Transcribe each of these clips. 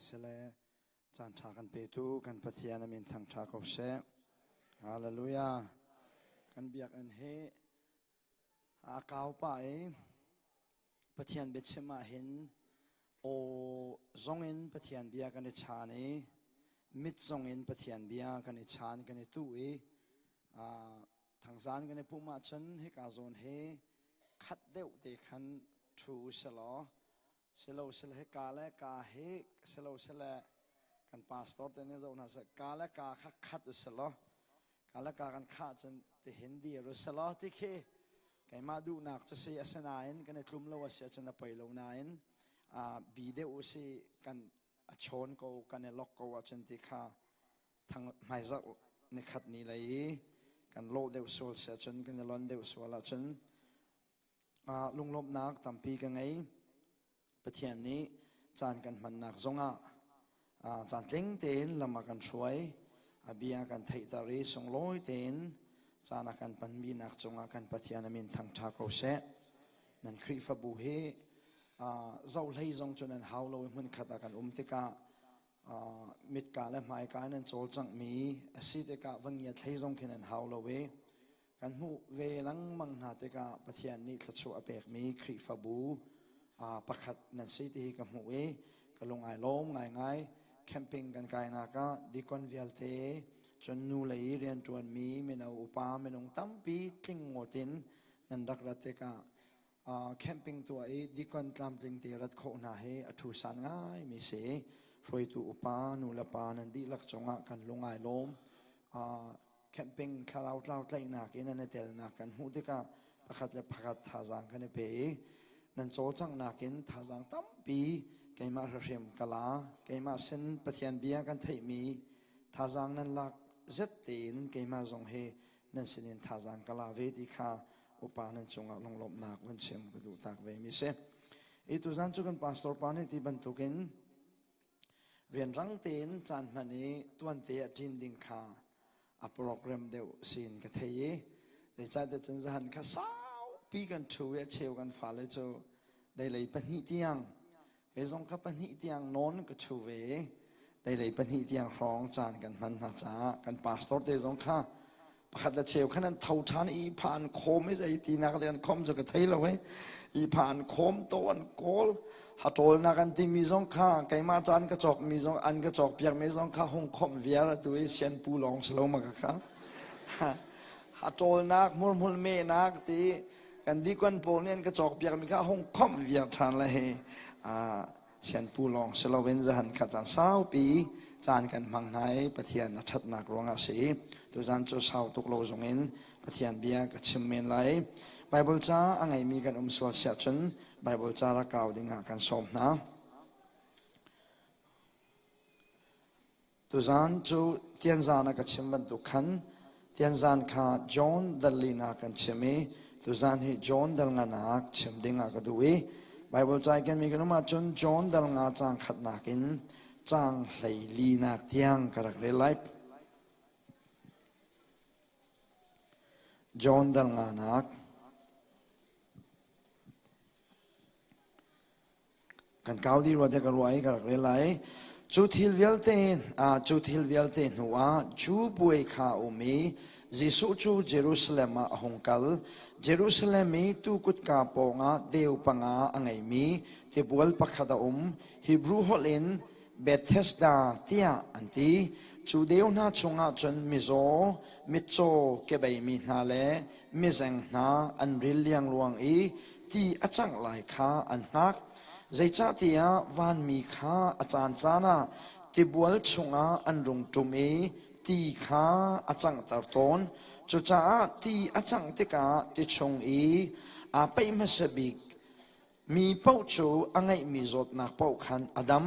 Sile caan ṭha kan petu kan Pathian a min thangṭha ko seh. Hallelujah. Kan biakinn hi aa kau pah i Pathian biachim ahhin aw zong in Pathian bia kan i chan i mit zong in Pathian bia kan i chan kan i tu i thangzan kan i pum ahcun hika zawn hi khat deuh te khan thu u sih law Silosele hi ka le ka hi silosele kan pastor te nih zoh hna sih ka le ka kha khat u si law ka le ka kan khah cun tihin dir u si law ti khi keimah duhnak cu si asinain kan i tlum lo a si ahcun a poi lo nain uh, bi deuh u si kan a chawn ko kan i lok ko ahcun ti kha thang hmaizah nikhat ni lei i kan lawh deuh sual si ahcun kan i lon deuh sual ahcun lunglawmhnak tampi ka ngei. Pathian nih caan kan hmannak zongah caan tling tein lam a kan hruai. A bia kan theihter i sunglawi tein caan a kan hmanmi nak cungah kan Pathian a min thangṭha ko seh. Nan Khrihfabu hi zohlei zong cu nan hau lo i hmunkhat ah kan um tikah mitka le hmaika in nan cawlcanghmi a si tikah va ngiat hlei zong khi nan hau lo i Kan hmuh ve lengmang hna tikah Pathian nih thluachuah a pekmi Khrihfabu uh, pakhat nan si tihi ka hmuh i ka lungai lawm ngaingai. Camping kan kainak ah deacon vialte cun nu lei i rianṭuanmi mino upa minung tampi tling ngawt in nan rak rat tikah camping tuah i dikon tlamtling te rat khawh hna hi a thusan ngaimi si hruaitu upa nu le pa nan dihlak cungah kan lungai lawm camping thlarau tlau tlaihnak in nan i telnak kan hmuh tikah pakhat le pakhat thazaang kan i pe i nan cawlcanghnak in thazaang tampi keimah hriahrim ka la keimah sin pathian bia kan theihmi thazaang nan lak zet tein keimah zong hi nan sinin thazan ka la ve ti kha upa nan cungah lunglawmhnak van chim ka duh tak ve mi si i tuzan cu kan pastor pa nih ti bantukin rianrang tein caan hman i tuante a ṭin ding kha a program deuh sin ka thei i zeicahtiah cun zahan kha saupi kan ṭhu i a cheu kan fale cu dei lei pahnih tiang Kei zong ka pahnih tiang nawn ka ṭhu ve. Teilei pahnih tiang hrawng caan kan hman hna caah kan pastor te zong kha pakhat le cheu khan an tho ṭhan i pha an khawm i zei tinak le an khawm cu ka thei lo hei i pha an khawm to an kawl haṭawlnak an timi zong kha keimah caan ka cawk mi zong an ka cawk piak mi zong kha hung khawmh viar atu i sianpu lawng si lo ma ka kha haṭawlnak murmur mehnak ti kan dikon pawl nih an ka cawkpiakmi kha hung khawmh viar ṭhan le hi sianpu lawng si loin zahan kha caan saupi caan kan hmang hna i Pathian a ṭhatnak ruangah si tuzan cu sau tuk lo zung in Pathian bia ka chim men lai Baibal ca a ngeimi kan um sual siah cun Baibal ca rak kau dingah kan sawm hna Tuzan cu Tianzan ah ka chim bantuk khan Tianzan kha John Dal Lin ah kan chim i tuzan hi John Dal Nga nak chim ding ah ka duh i Baibal caai kenmi ka um ahcun John Dal Nga caang khatnak in caang hlei linak tiang ka rak rel lai. John Dal Nga nak Kan kau dih rua tiah ka ruah i ka rak rel lai. Cu thil vialte, ah, cu thil vialte hnuah Jew puai kha a um i Jesuh cu Jerusalem ah a hung kal. Jerusalem i tuu kutka pawngah deu panga a ngeimi tibual pakhat a um. Hebrew holh in Bethesda tiah an ti. Cu deu hna chungah cun mizaw, mitcaw kebeimi hna le mizeng hna an ril liangluang i ti a cangh lai kha an hngak. Zeicahtiah vanmi kha a caancaan ah tibual chungah an rung ṭum i ti kha a canghter tawn. Cucaah ti a cangh tikah ti chung i aa peih hmasa bik Mi paoh cu a ngeihmi zawtnak paoh khan a dam.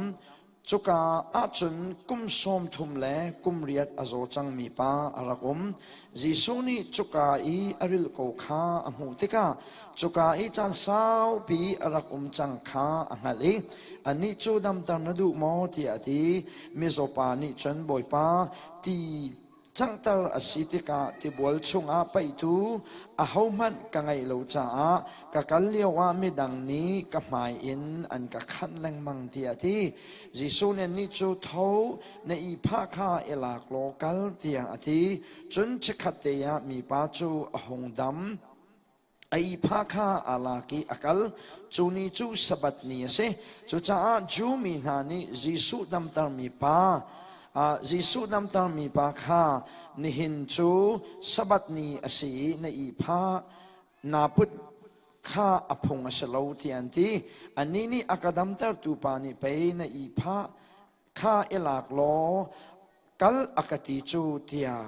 Cuka ah cun kum sawm thum le kum riat a zaw cangmi pa a rak um. Jesuh nih cuka i a ril ko kha a hmuh tikah cuka i caan saupi a rak um cang kha a hngalh i anih cu damter na duh maw tiah a ti. Mizaw pa nih cun, Bawipa, ti canghter a si tikah tibual chungah paihtu ahohmanh ka ngeih lo caah ka kal lioah midang nih ka hmai in an ka khanh lengmang tiah a ti. Jesuh nih nih cu tho na ihphah kha i lak law kal tiah a ti. Cun chikkhat te ah mipa cu a hung dam. A ihpa kha aa lak i a kal. Cu ni cu Sabbath ni a si. Cucaah Jew mi hna nih Jesuh damtermi pa ah Jesuh damtermi pa kha nihin cu Sabbath ni a si i na ihpa naa put kha a phung a si lo tiah an ti. Anih nih a ka damtertu pa nih pei na ihpa kha i lak law kal a ka ti cu tiah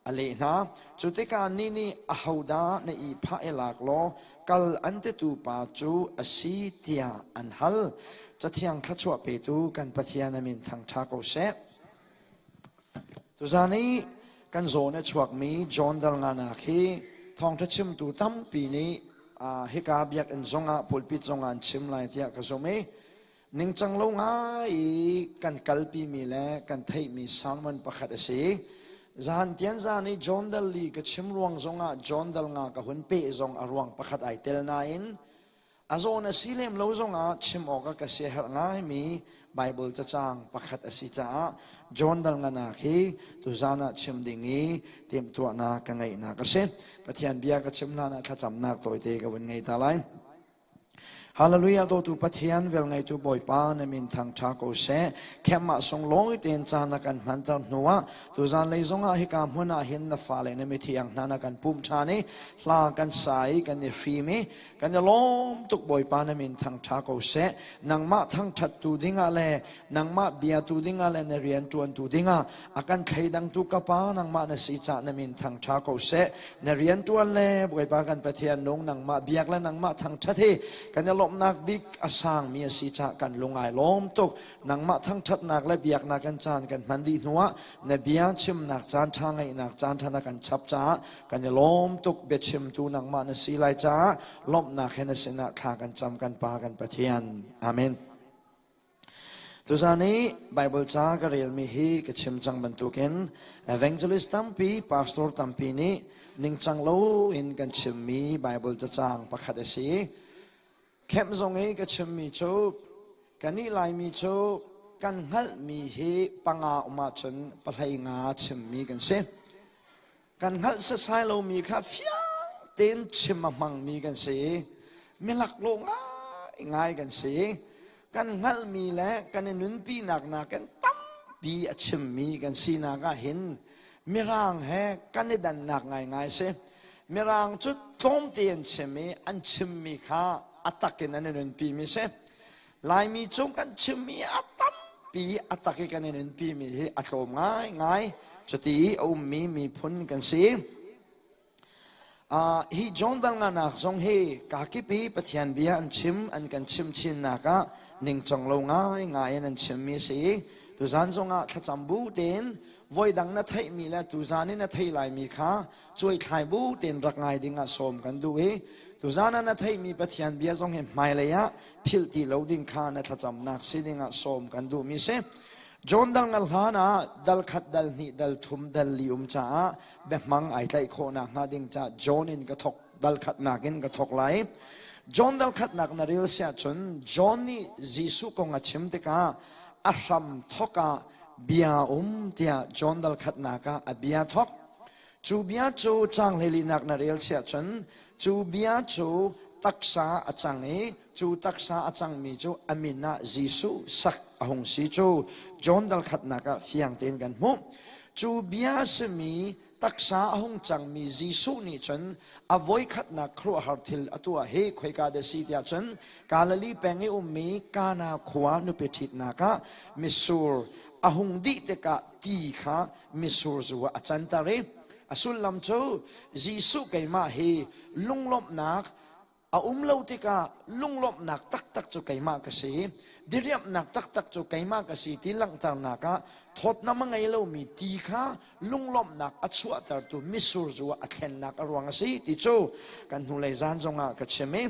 a leh hna cu tikah ni nih ahodah na ihphah i lak law kal an titu pa cu a si tiah an hal cathiang thluachuah petu kan pathian a min thangṭha ko seh tuzan i kan zawn a chuakmi john dalngana khi thawngṭha chimtu tampi nih hika biakinn zongah pulpit zongah an chim lai tiah ka zumh i Ningcang lo ngai i kan kalpimi le kan theihmi sermon pakhat a si. Zan tian zan i John Dal li ka chim ruang zongah John Dal nga ka hun pe zong a ruang pakhat ai tel nain a zawn a si lem lo zongah chim awk a ka siaherh ngaimi Bible cacang pakhat a si caah John Dal nga nak hi tuzan ah chim ding i timhtuahnak ka ngeihnak a si. Pathian bia ka chim hlan ah thlacamnak tawite ka vun ngei ta lai. Hallelujah dawtu Pathian velngeitu Bawipa na min thangṭha ko seh. Khenmah sung lawi tein ca na kan hmanter hnu ah tuzan lei zongah hika hmun ah hin na fale na mithiang hna na kan pum ṭhan i hla kan sa i kan i hrim i kan i lawm tuk Bawipa na min thangṭha ko seh. Nangmah thangṭhattu dingah le nangmah bia tu dingah le na rian ṭuantu dingah a kan thleidangtu ka pa nangmah na si cah na min thangṭha ko seh na rian ṭuan le bawipa kan pathian nung nangmah biak le nangmah thangṭhat hi kan i lawmhnak bik a sangmi a si cah kan lungai lawm tuk nangmah thangṭhatnak le biaknak kan caan kan hman dih hnuah na bia chimnak caan ṭha ngeihnak caan ṭha na kan chap caah kan i lawm tuk biachimtu nangmah na si lai caah lawmhnak he na sinah thla kan cam kan pa kan pathian amen Tuzaan i Baibal ca ka relmi hi ka chim cang bantukin evangelist tampi, pastor tampi nih ningcang loin kan chimmi Baibal cacang pakhat a si. Camp zong i ka chimmi cu kan ih laimi cu kan hngalhmi hi panga um ahcun pahlei nga chimmi kan si. kan hngalh setsai lomi kha fiang tein chim a hmangmi kan si milaklawh ngaingai kan si kan hngalhmi le kan i nunpinak nak kan tampi a chimmi kan sinak ah hin mirang he kan i dannak ngaingai si mirang cu tlawmte an chim i an chimmi kha a takin an i nunpi mi si Laimi cu kan chimmi a tampi a tak i kan in innpimi hi a tlawm ngaingai cuti i a ummi miphun kan si. Uh, hi John Danganak zong hi kakipi Pathian bia an chim an kan chim chinnak ah ningcang lo ngai ngai in an chimmi a si i tuzan zongah thlacam bu tein voidang na theihmi le tuzan i na thei laimi kha cuaithlai bu tein rak ngai ding ah sawm kan duh i tuzan ah na theihmi pathian bia zong hi hmailei ah philh ti lo ding kha na thlacamnak si ding ah sawm kan duhmi si John dang al hlan ah dal khat dal hnih dal thum dal li um caah behmang ai tlaih khawhnak hnga ding ca John in ka thok dal khatnak in ka thok lai John dal khatnak na ril sia cun John nih Jesuh kong a chim tikah a hram thok ah bia um tiah John dal khatnak ah a bia thok Cu bia cu cang hleilinak na rel siah cun cu bia cu taksa a cang i cu taksa a cangmi cu a min ah Jesuh sak a hung si cu John dal khatnak ah fiang tein kan hmuh cu bia simi taksa a hung cangmi Jesuh nih cun a voikhatnak khuaruahhar thil a tuah hi khoika da si tiah cun Galilee peng i ummi Kana khua nupi ṭhitnak ah mitsur a hung dih tikah ti kha misur zu ah a canter i a sullam cu Jesuh keimah hi lunglawmhnak a um lo tikah lunglawmhnak taktak cu keimah ka si diriamhnak taktak cu keimah ka si ti langhternak ah thawtnam a ngei lomi ti kha lunglawmhnak a chuahtertu misur zu ah a thlennak a ruang a si ti cu kan hnulei zan zongah ka chim i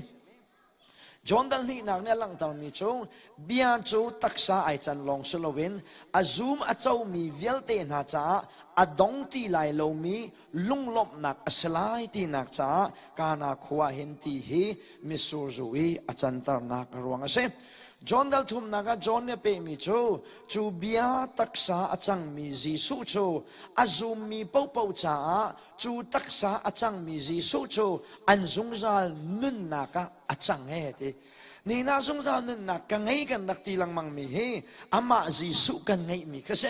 John Dal hnihnak nih a langhtermi cu bia cu taksa ai can lawng si loin a zum a comi vialte hna caah a dong ti lai lomi lunglawmhnak a si lai tinak caah Kana khua hin ti hi Misur zu i a canternak a ruang a si. John Dal thumnak ah John nih a pehmi cu cu bia taksa a cangmi Jesuh cu a zummi paohpaoh caah Cu taksa a cangmi Jesuh cu an zungzal nunnak ah a cang he ti. Nihnak zungzal nunnak ka ngei kan rak ti lengmang mi hi amah Jesuh kan ngeihmi ka si.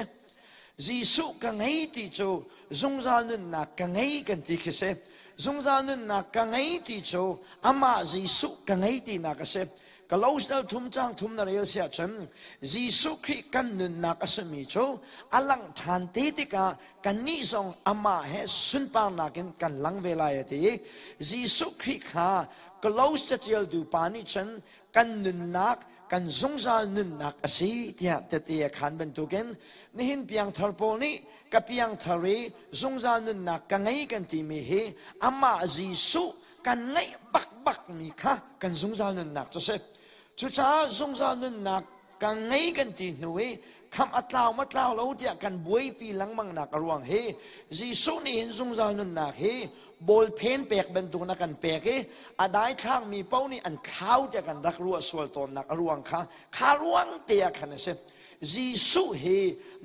Jesuh ka ngei ti cu zungzal nunnak ka ngei kan ti khi si. Zungzal nunnak ka ngei ti cu amah Jesuh ka ngei tinak a si. Colossians thum cang thum na rel si ahcun Jesuh Khrih kan nunnak a simi cu a lang ṭhan te tikah kannih zong amah he sunparnak in kan lang ve lai a ti i Jesuh Khrih kha Colossians catialtu pa nih cun kan nunnak kan zungzal nunnak a si tiah tete a khaan bantukin nihin piangthar pawl nih ka piangthar i zungzal nunnak ka ngei kan timi hi amah Jesuh kan ngeih bakbakmi kha kan zungzal nunnak cu si cucaah zungzal nunnak ka ngei kan ti hnu i kham a tlau ma tlau lo tiah kan buaipi lengmangnak a ruang hi Jesuh nih hin zungzal nunnak hi bawl phen pek bantukin a kan pek i a daithlangmi paoh nih an thlau tiah kan rak ruah sual tawnnak a ruang kha kha ruang te ah khan a si Jesuh hi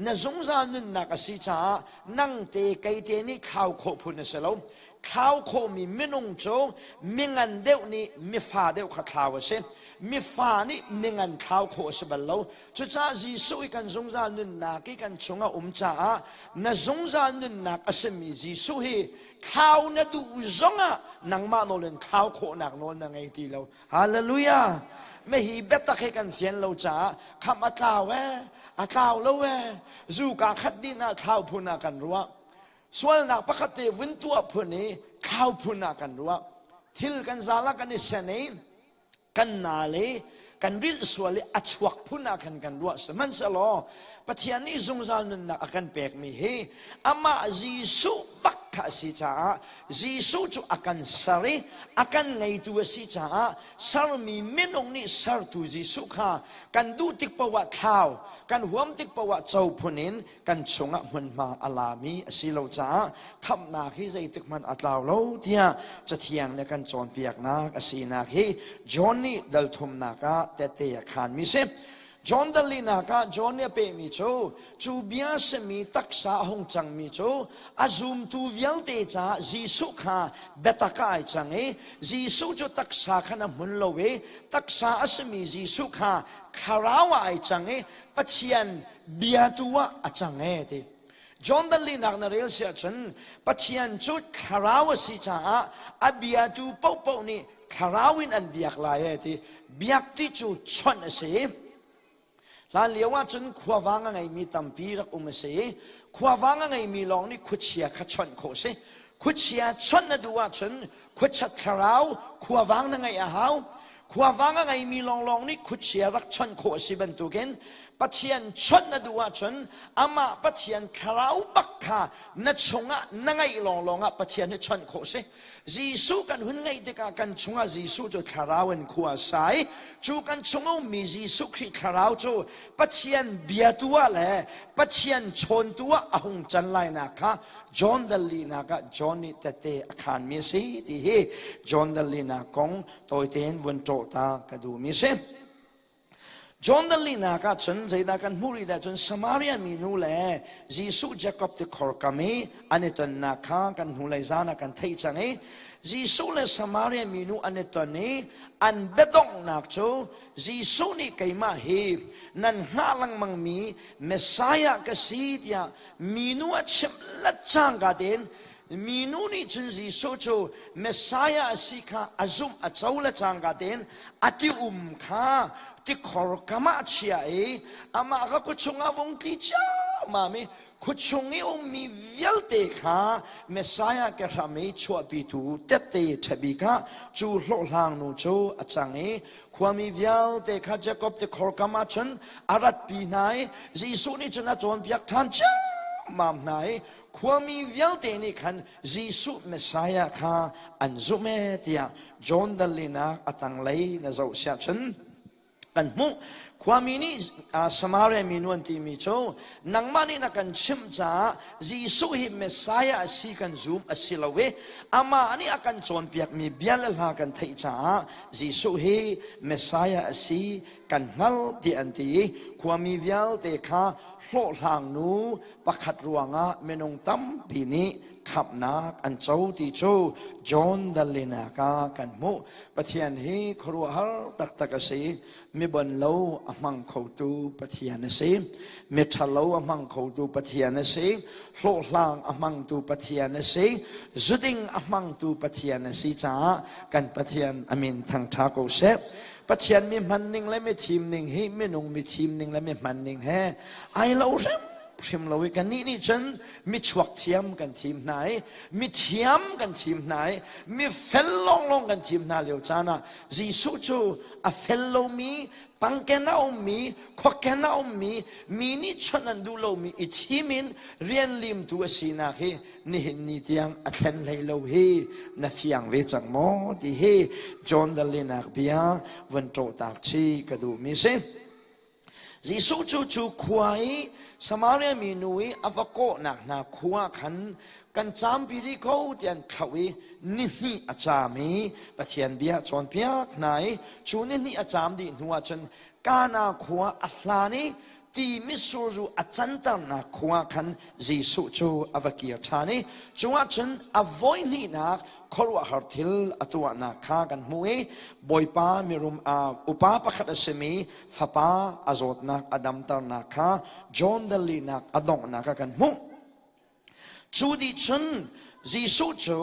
na zungzal nunnak a si caah nang te kei te nih khau khawh phun a si lo thlau khawhmi minung cu mingan deuh nih mifa deuh kha thlau a si mifa nih mingan thlau khawh a si bal lo cucaah Jesuh i kan zungzal nunnak i kan chung a um caah na zungzal nunnak a simi Jesuh hi thlau na duh zong ah nangmah nawl in thlau khawhnak nawl na ngei ti lo halleluja me hi biatak he kan fian lo caah kham a tlau e a tlau lo e zu ka khat dih na thlau phun ah kan ruah Sualnak pakhat te vun tuah phun i thlau phun ah kan ruah. Thil kan zal ah kan i sen i kan nal i kan rilh sual i a chuak phun ah khan kan ruah. Sihmanhsehlaw Pathian nih zungzal nunnak a kan pekmi hi amah Jesuh bak kha a si caah Jesuh cu a kan ser i a kan ngeitu a si caah sermi minung nih sertu Jesuh kha kan duh tik paoh ah thlau, kan huam tik paoh ah co phun in kan chungah hmunhma a lami a si lo caah khamhnak hi zeitik hmanh a tlau lo tiah cathiang le kan cawnpiaknak a sinak hi John nih dalthumnak ah tete a khanmi si John dalinak ah John nih a pehmi cu cu bia simi taksa a hung cangmi cu a zumtu vialte caah Jesuh kha biatak ah ai cang i Jesuh cu taksa khan a hmun lo i taksa a simi Jesuh kha thlarau ah ai cang i Pathian bia tu ah a cang e ti John danlihnak na rel si ahcun Pathian cu thlarau a si caah a biatu paohpaoh nih thlarau in an biak lai e ti biak ti cu chonh a si hlan lio ahcun khuavang a ngeimi tampi rak um a si i khuavang a ngeimi lawng nih khuachia kha chonh khawh a si Khuachia chawnh na duh ahcun khuachat thlarau, khuavang na ngeih a hau. Khuavang a ngeimi lawnglawng nih khuachia rak chawnh khawh a si bantukin Pathian chawnh na duh ahcun amah Pathian thlarau bak kha na chungah na ngeih lawnglawng ah Pathian hi chawnh khawh a si. Jesuh kan hun ngeih tikah kan chungah Jesuh cu thlarau in khua a sa i cu kan chung a ummi Jesuh Khrih thlarau cu Pathian biatu ah le Pathian chawntu ah a hung can lainak kha John Dalinak ah John nih tete a khanmi a si ti hi John Dalinak kong tawite in vun ṭawh ta ka duhmi a si. John Dalinak ah cun zeidah kan hmuh rih dah cun Samaria mi nu le Jesuh Jacob ti khorkam i an i tonnak kha kan hnulei zan ah kan theih cang i Jesuh le Samaria mi nu an i ton i an biadonghnak cu Jesuh nih keimah hi nan hngah lengmangmi Messiah ka si tiah minu a chimh cangka tein minu nih cun Jesuh cu Messiah a si kha a zumh a co le cangka tein a ti um kha ti khor kam ah a chia i amah kha khuachung ah vung tli ciammam i khuachung i ummi vialte kha Messiah ke hram i chuahpitu tette ṭhebi kha cu hlawhhlangnu cu a cang i Khuami vialte kha Jacob ti khor kam ah cun a ratpi hna i Jesuh nih cun a cawnpiak ṭhan ciammam hna i khuami vialte nih khan Jesuh Messiah kha an zumh ee tiah John dalinak a tanglei na zoh siah cun kan hmuh khuami nih Samaria mi nuan timi cu nangmah nih na kan chimh caah Jesuh hi Messiah a si kan zum a si lo i amah nih a kan cawnpiakmi bia le hla kan theih caah Jesuh hi Messiah a si kan hngalh tiah an ti i khuami vialte kha hlawhhlangnu pakhat ruangah minung tampi nih khamhnak an co ti cu John Dalinak ah kan hmuh. Pathian hi khuaruahhar taktak a si. mibon lo a hmang khotu pathian a si miṭhalo a hmang khotu pathian a si hlawhhlang a hmangtu pathian a si zuding a hmangtu pathian a si caah kan pathian a min thangṭha ko seh pathian mi hman ning le mi thim ning hi minung mi thim ning le mi hman ning he ai lo hrem hrim lo i kan nih nih cun mi chuak thiam kan thim hna i mi thiam kan thim hna i mi fel lawnglawng kan thim hna lio caan ah Jesuh cu a fel lomi, pangken a ummi, khuakken a ummi, mi nih chawnh an duh lomi i thim in rian limtu a sinak hi nihin ni tiang a thlen hlei lo hi na fiang ve cang maw ti hi John the linak bia vun ṭawhtak chih ka duhmi si. Jesuh cu cu khua i Samaria mi nu i a va kawhnak hna khua khan kan campi rih ko ti an thlauh i ni hnih a cam i Pathian bia a cawnpiak hna i cu ni hnih a cam dih hnuah cun Kana khua a hlan i ti mitsur ru a canternak khua khan Jesuh cu a va kir ṭhan i cungah cun a voi hnihnak khuaruahhar thil a tuahnak kha kan hmuh i bawipa mirum upa pakhat a simi fapa a zawtnak a damternak kha John dalinak a donghnak a kan hmuh cu dih cun Jesuh cu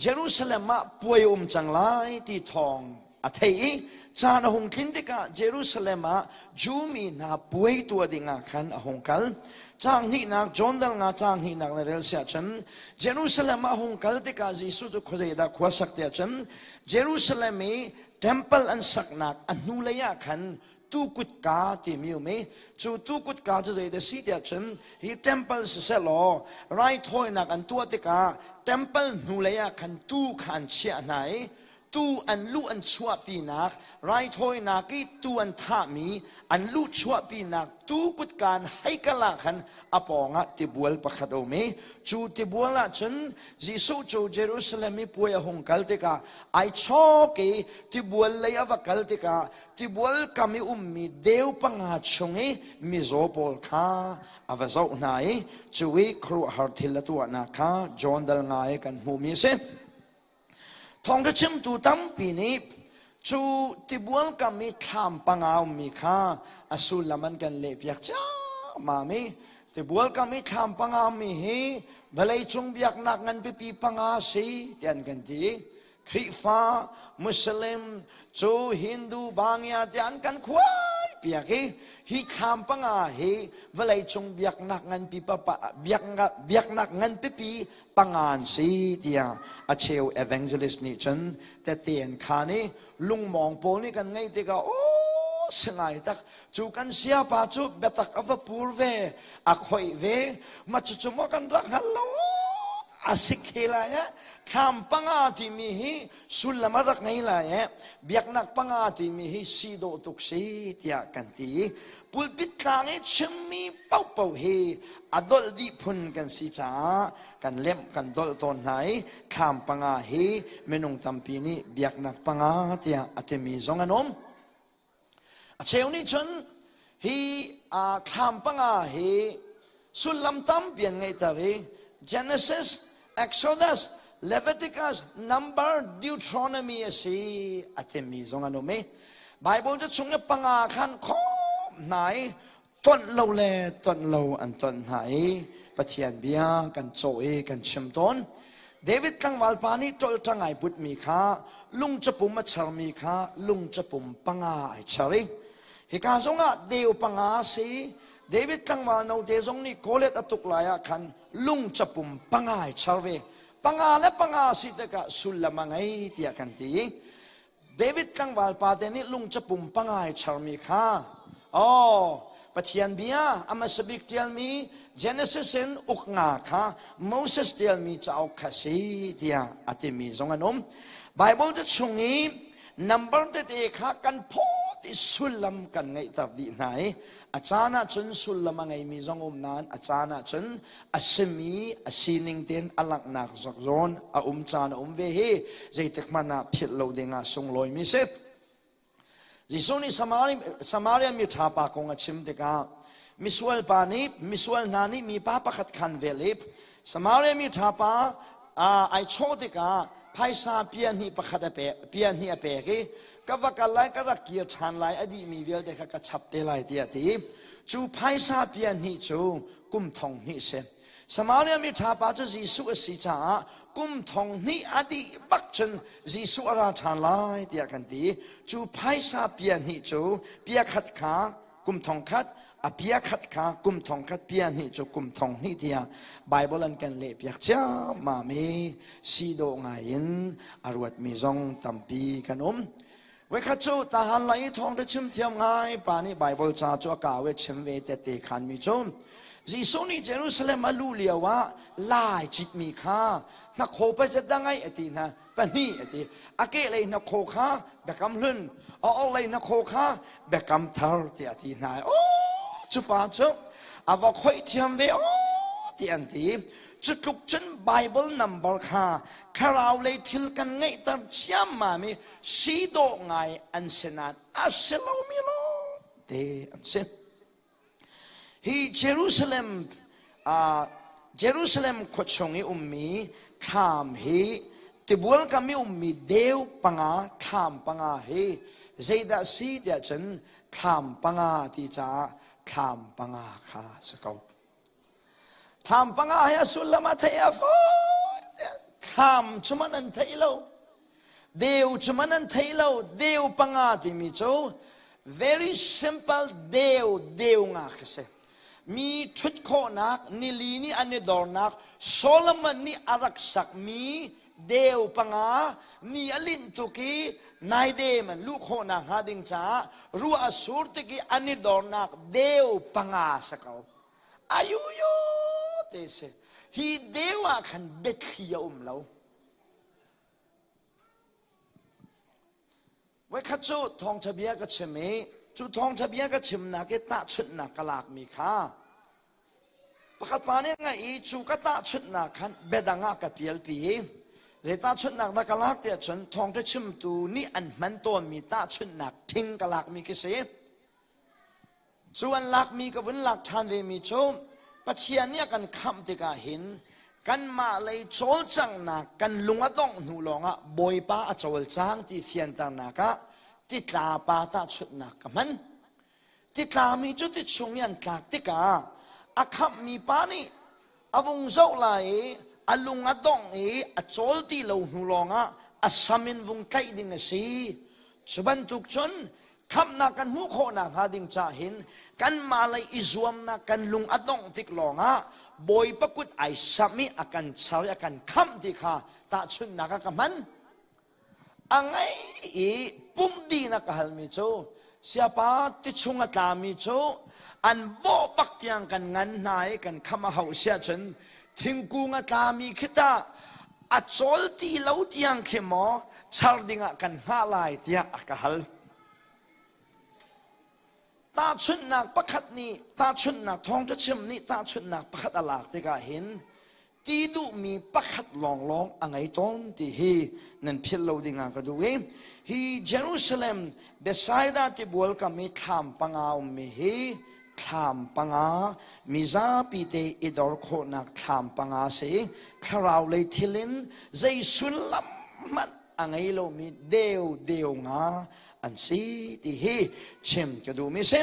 Jerusalem ah puai um cang lai ti thawng a thei i caan a hung tlin tikah Jerusalem ah Jew mi hna puai tua dingah khan a hung kal. Caang hnihnak John dal nga caang hnihnak le rel si ahcun Jerusalem ah hung kal tikah Jesuh cu khuazeidah khua sak ti ahcun Jerusalem i temple an saknak a hnulei ah khan tukutka timi um i cu tukutka cu zeidah si ti ahcun hi temple sisehlaw raithawinak an tuah tikah temple hnulei ah khan tuu kha an chiah hna i tuu an luh an chuahpinak raithawinak i tuu an thahmi an luh chuahpinak tuu kutka an hei kala khan a pawngah tibual pakhat a um i cu tibual ah cun Jesuh cu Jerusalem i puai a hung kal tikah ai chawk i tibual lei a va kal tikah tibual kam i ummi deu panga chung i mizaw pawl kha a va zoh hna i cu i khuaruahhar thil a tuahnak kha John dal ngai kan hmuhmi a si. Thawngṭha chimtu tampi nih cu tibual kam i thlam panga a ummi kha a sullam an kan lehpiak ciammam i tibual kam i thlam panga a ummi hi vawleicung biaknak ngan pipi panga a si ti an kan ti. Khrihfa, Muslim, cu Hindu, Bangia tiah an kan khuai piak i hi thlam panga hi vawleicung biaknak ngan pipa biaknak ngan pipi pangan si tiah a cheu evangelist nih cun tete an khan i lungmawng pawl nih kan ngaih tikah aw singai tak cu kan siapa cu biatak a va pur ve a khoi ve ma cucu maw kan rak hal lo a sik he lai eh kham panga timi hi sullam a rak ngei lai eh biaknak panga timi hi si dawh tuk si tiah kan ti i pulpit tlang i chimmi paupo hi a dolh dih phun kan si caah kan lemh kan dolh tawn hna i thlam panga hi minung tampi nih biaknak panga tiah a timi zong an um a cheu nih cun hi thlam panga hi sullam tampi an ngeihter i Genesis Exodus Leviticus number Deuteronomy a si a timi zong an um i Bible cu chung i panga khan khom hna i tonh lo le tonh lo an tonh hna i Pathian bia kan caw i kan chim tawn David tlangval pa nih ṭolṭang ai butmi kha lungcapum a chermi kha lungcapum panga ai cher i hika zongah deu panga a si David tlangval note zong nih Goliath a tuk lai ah khan lungcapum panga ai cher ve panga le panga a si tikah sullam a ngei tiah kan ti David tlangval pate nih lung capum pangai charmi kha aw Pathian bia a hmasa bik ṭialmi Genesis in uk nga kha Moses ṭialmi cauk kha si tiah a timi zong an um. Baibal te chung i nambar tete kha kan phawt i sullam kan ngeihter dih hna i a caan ahcun sullam a ngeimi zong um nain a caan ahcun a simi a sining tein a langhnak zak zawn a um caan a um ve hi zeitik hmanh ah philh lo dingah sunglawimi si Jesuh nih Samaria mi ṭha pa kong a chim tikah misual pa nih misual hna nih mipa pakhat khan vel i Samaria mi ṭha pa ai chawh tikah phaisa pia hnih pakhat a pek pia hnih a pek i ka va kal lai ka rak kir ṭhan lai a dihmi vialte kha ka chap te lai tiah ti cu phaisa pia hnih cu kum thong hnih si Samaria mi ṭha pa cu Jesuh a si caah kum thong hnih a dih bak cun Jesuh a ra ṭhan lai tiah kan ti cu phaisa pia hnih cu pia khat kha kum thong khat a pia khat kha kum thong khat pia hnih cu kum thong hnih tiah Bible an kan lehpiak ciammam i si dawh ngai in a ruatmi zong tampi kan um Voikhat cu tahan la i thawngṭha chim thiam ngai pa nih Baibal ca cu a ka ve chim ve tete khan mi cu Jesuh nih Jerusalem a luh lio ah lai citmi kha hnakhaw pacet dang ai ati hna pahnih ati a kehlei hnakhaw kha biakam hlun a orhlei hnakhaw kha biakam thar ti a ti hna aw cu pa cu a va khoih thiam ve aw ti an ti cu tluk cun Bible number kha thlarau lei thil kan ngeihter ciammam i si dawh ngai an si nain a si lomi lawng te an si hi jerusalem uh, jerusalem khua chung i ummi thlam hi tibual kam i ummi deu panga thlam panga hi zeidah si tiah cun thlam panga ti caah thlam panga kha si ko Thlam panga he a sullam a thei a fawi thlam chuman an thei lo deu chuman an thei lo deu panga timi cu very simple deu deu nga khi si mi thut khawhnak nili nih an i dornak Solomon nih a rak sakmi deu panga ni a linh tuk i nai dem an lu khawhnak hnga ding caah ruah a sur tik i an i dornak deu panga sa ko ayuyo te si hi deu ah khan biathli a um lo voikhat cu thawngṭha bia ka chim i cu thawngṭha bia ka chimnak i tahchunhnak ka lakmi kha pakhat pa nih ngaih i cu ka tahchunhnak khan biadang ah ka pialpi i zei tahchunhnak dah ka lak tiah cun thawngṭha chimtu nih an hman tawnmi tahchunhnak thing ka lakmi khi si Cu an lakmi ka vun lak ṭhan vemi cu Pathian nih a kan khamh tikah hin kanmah lei cawlcanghnak kan lung a dongh hnu lawngah Bawipa a cawlcang ti fianternak ah titlapa tahchunhnak ka hman. Titlami cu tichung i an tlak tikah a khamhmi pa nih a vung zoh lai i a lung a dongh i a cawl ti lo hnu lawngah a sam in vung tlaih ding a si cu bantuk cun khamhnak kan hmuh khawhnak hnga ding cahin kanmah lei i zuamnak kan lung a dongh tik lawngah Bawipa kut ai samh i a kan char i a kan khamh ti kha tahchunhnak ah ka hman A ngeih i pumh dihnak ka halmi cu siapa tichung a tlami cu an bawh bak tiang kan ngan hna i kan kham a hauh si ahcun thingkung a tlami khi tah a cawl ti lo tiang khi maw char dingah kan hngah lai tiah a ka hal. Tahchunhnak pakhat nih tahchunhnak thawng cu chim nih tahchunhnak pakhat a lak tikah hin ti duhmi pakhat lawnglawng a ngei tawn ti hi nan philh lo dingah ka duh i hi Jerusalem Bethsaida tibual kam i thlam panga ummi hi thlam panga mizapi te i dor khawhnak thlam panga si thlarau lei thil in zei sullam hmanh a ngei lomi deu deu nga an si ti hi chim ka duhmi si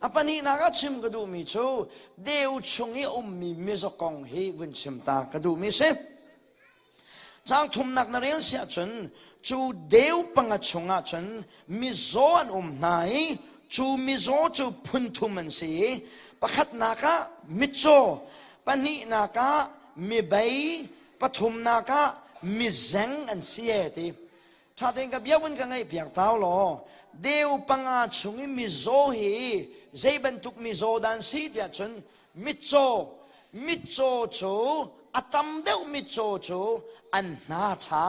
a pahnihnak a chim ka duhmi cu deu chung i ummi mizaw kong hi vun chim ta ka duhmi si cang thumnak na rel si ahcun cu deu panga chung ahcun mizaw an um hna i cu mizaw cu phunthum an si i pakhatnak ah mitcaw pahnihnak ah mibei pathumnak ah mizeng an si e ti ṭha tein ka biakinn ka ngaih piak tau law deu panga chung i mizaw hi zei bantuk mizaw dan si tiah cun mitcaw mitcaw cu a tam deuh mitcaw cu an hna ṭha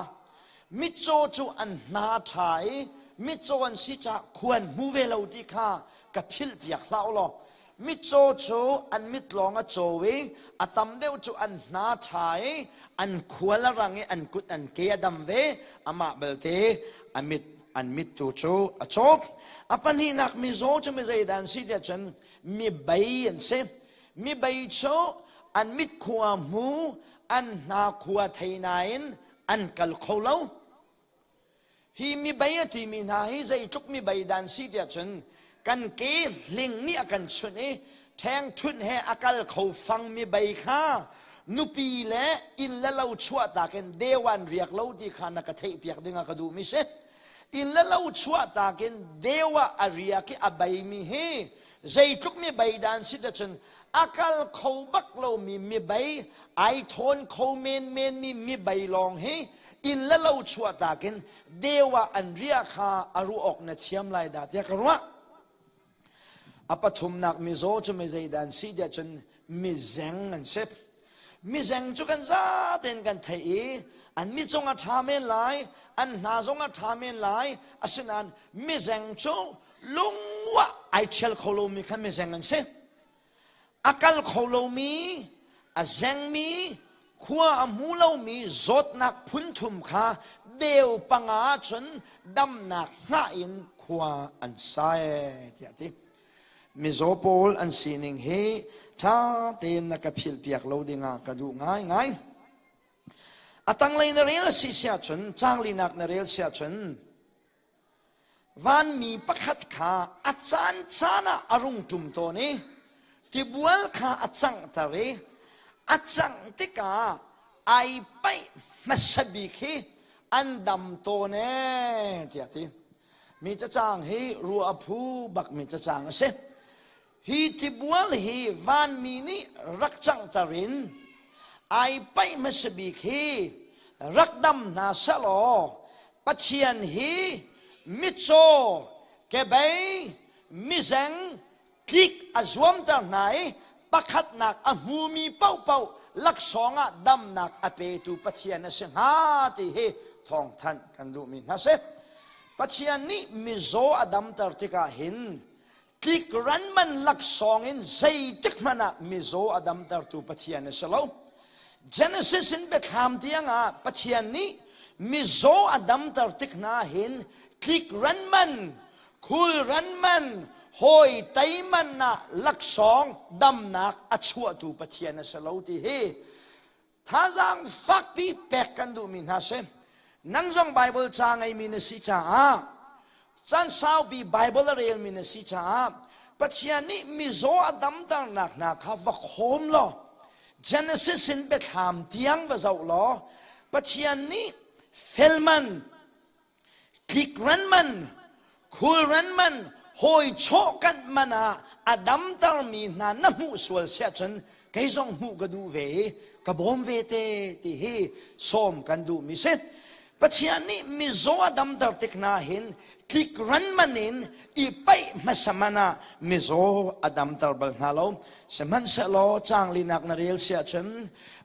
mitcaw cu an hna ṭha i mitcaw an si caah khuan hmu ve lo ti kha ka philh piak hlah u law Mitcaw cu an mit lawng a caw i a tam deuh cu an hna ṭha i an khual a rang i an kut an ke a dam ve. Amah belte a mit an mit tu cu a cawk. A pahnihnak mizaw cu mi zeidah an si tiah cun mi bei an si. Mi bei cu an mit khua hmu an hna khua thei nain an kal kho lo. Hi mibei a timi hna hi zeitluk mibei dan si tiah cun kan ke hling nih a kan chunh i ṭhengṭhunh he a kal kho fang mibei kha nupi le inn le lo chuahtak in dewan riak lo ti kha na ka theihpiak ding ah ka duhmi si. Inn le lo chuahtak in deu ah a riak i a beimi hi zeitluk mi bei dan si cun a kal kho bak lomi mibei ai thawn kho menmen mi mibei lawng hi inn le lo chuahtak in deuah an ria kha a ruah awk na thiam lai da tiah ka ruah a pathumnak mizaw cu mi zeidan si tiah cun mi zeng an si Mizeng cu kan zaten kan theih i an mi cung a ṭha men lai, an hna zong a ṭha men lai. Asinain mizeng cu lungwah ai ṭhial kho lomi kha mizeng an si. A kal kho lomi, a zengmi, khua a hmu lomi zawtnak phunthum kha deu panga ah cun damnak hngah in khua an sai, tiah a ti. Mizaw pawl an sining hi ṭha tein na ka philhpiak lo dingah ka duh ngaingai. A tanglei na rel si si ahcun, canglinak na rel si ahcun, vanmi pakhat kha a caan caan ah a rung ṭum tawn i tibual kha a canghter i a cangh tikah ai paih hmasa bik hi an dam tawn e tiah ti. Mi cacang hi ruah a phu bakmi cacang a si. Hi thibual hi vanmi nih rak canghter in ai paih hmasa bik hi rak dam hna selaw Pathian hi mitcaw kebei mizeng kik a zuamter hna i pakhatnak a hmumi paohpaoh laksawng ah damnak a petu Pathian a si hnga ti hi thawngthanh kan duhmi hna si. Pathian nih mizaw a damter tikah hin tlikran man laksawng in zeitik hmanh ah mizaw a damtertu Pathian a si lo. Genesis in biathlam tiang ah Pathian nih mizaw a damter tik hna hin tlikran man khulran man hawi teiman ah laksawng damnak a chuahtu pathian a si lo ti hi thazaang fakpi pek kan duhmi hna si nang zong bible ca ngeimi na si caah caan saupi bible a relmi na si caah pathian nih mizaw a damternak hna kha va khawm law genesis in biathlam tiang va zoh law pathian nih felman tlik ranman khul ranman hawi chawhkanh man ah a damtermi hna na hmuh sual si ahcun kei zong hmuh ka duh ve i ka bawm ve te ti hi sawm kan duhmi si pathian nih mizaw a damter tik na hin tlik ranman in i paih hmasa man ah mizaw a damter bal hna lo sihmanhsehlaw cangli nak na rel si ahcun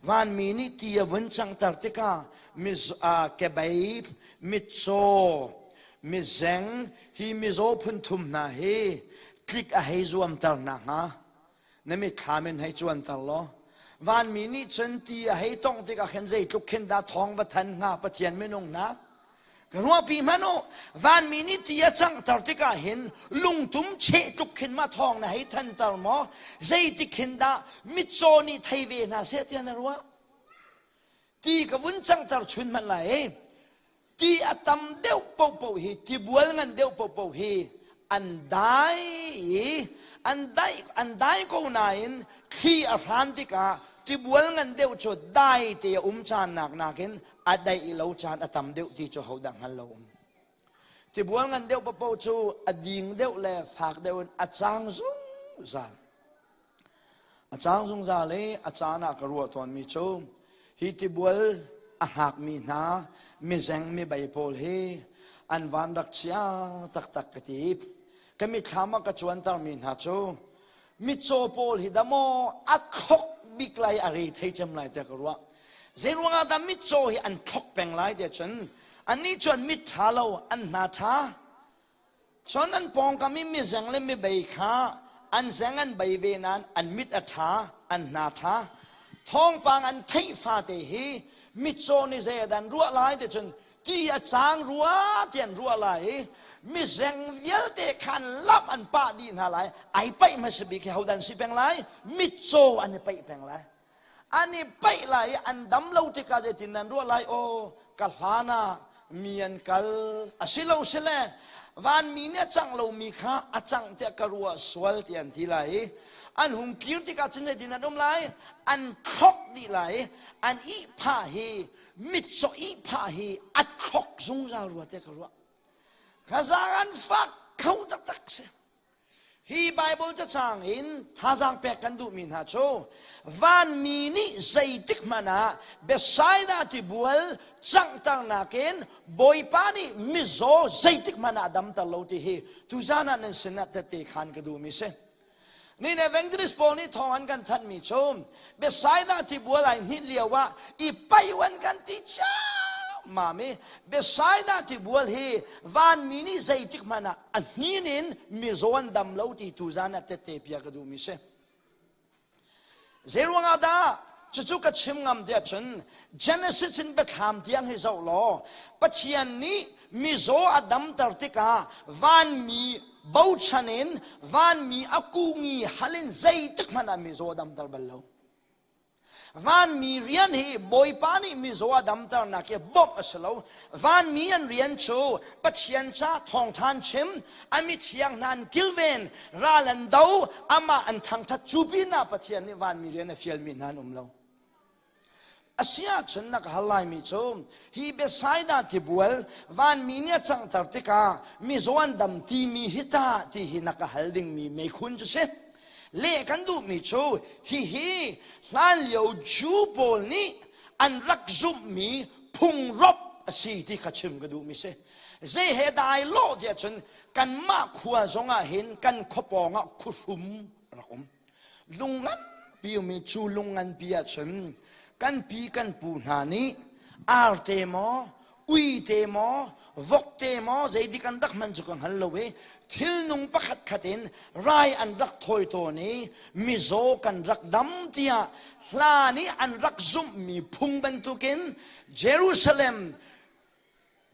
vanmi nih ti a vun cangter tikah miz uh, kebaib mitcaw mizeng hi mizaw phunthum hna hi tlik a hei zuamter na hnga na mithlam in hei cuanter law vanmi nih cun ti a hei tong tikah khin zeitluk khin dah thawng va than hnga pathian minung na ka ruahpi hman u vanmi nih ti a canghter tikah hin lungtum cheh tluk khin ma thawng na hei thanter maw zeitikhin dah mitcaw nih thei ve hna seh tiah na ruah ti ka vun cangter chun hmanh lai ti a tam deuh pohpoh hi tibual ngan deuh pohpoh hi an dai i an dai an dai ko nain thli a hran tikah tibual ngan deuh cu dai te a um caan nak nakin a daih lo caan a tam deuh ti cu hodah hngal lo um tibual ngan deuh pohpoh cu a ding deuh le fak deuh in a cang zungzal A cang zungzal i a caan ah ka ruah tawnmi cu hi tibual a hngakmi hna mizeng mibei pawl hi an van rak chia taktak ka ti. Ka mitthlam ah ka cuantermi hna cu mitcaw pawl hi damaw a khok bik lai a re thei cem lai tiah ka ruah. Zeiruangah dah mitcaw hi an thlok peng lai tiah cun anih cu an mit ṭha lo, an hna ṭha, Cun an pawngkam i mizeng le mibei kha an zeng an bei ve nain an mit a ṭha, an hna ṭha. Thawngpang an theih fate hi mitcaw nih zei a dan ruah lai ti cun ti a cang rua ti an ruah lai i mizeng vialte kha an lamh an pah dih hna lai. Ai paih hmasa bik hi hodan si peng lai? Mitcaw an i paih peng lai. an i paih lai i an dam lo tikah zeitin nan ruah lai o ka hlan ah mi an kal a si lo si le vanmi nih a cang lomi kha a cang tiah ka ruah sual ti an ti lai i an hung kir tikah cun zeitin an um lai an thlok dih lai an ihphah hi mitcaw ihphah hi a thlok zungzal rua tiah ka ruah kha zang an fak kho taktak si Hi Baibal cacang in thazaang pek kan duhmi hna cu vanmi nih zeitik hmanh ah Bethsaida tibual canghternak in Bawipa nih mizaw zeitik hmanh ah damter lo ti hi tuzan ah nan sinah tete khan ka duhmi si. Nih le Evangelist pawl nih thawng an kan thanhmi cu Bethsaida tibual ai hninh lio ah i paiwan kan ti ciammam i Bethsaida tibual hi vanmi nih zeitik hmanh ah a hnin in mizaw an dam lo ti tu zan ah tette pia ka duhmi si zeiruang ah dah cucu ka chim ngam tiah cun genesis in biathlam tiang hi zoh law pathian nih mizaw a damter tikah vanmi bochan in vanmi a kungi halin zeitik hmanh ah mizaw damter bal lo Vanmi rian hi Bawipa nih mizaw a damternak hi bawmh a si lo. Vanmi an rian cu Pathian ca thawngṭhan chim, a mithiang hna an kilven, ral an do, amah an thangṭhat. Cu pinah Pathian nih vanmi rian a fialmi hna an um lo. A si ahcun na ka hal laimi cu hi Bethsaida tibual vanmi nih a canghter tikah mizaw an dam timi hi tah ti hi na ka hal dingmi meikhu cu si. Leh kan duhmi cu hihi hlanlio Jew pawl nih an rak zumhmi phungrop a si ti kha chim ka duhmi si. Zei he dai lawh tiah cun kanmah khua zongah hin kan khuapawng ah khuhrum rak um. Lung nganpi ummi cu lung nganpi ah cun kan pi kan pu hna nih arte maw ui te maw vok te maw zeidik an rak man cu ka hngal lo i thilnung pakhat khat in rai an rak thawi tawn i mizaw kan rak dam tiah hla nih an rak zumhmi phung bantukin Jerusalem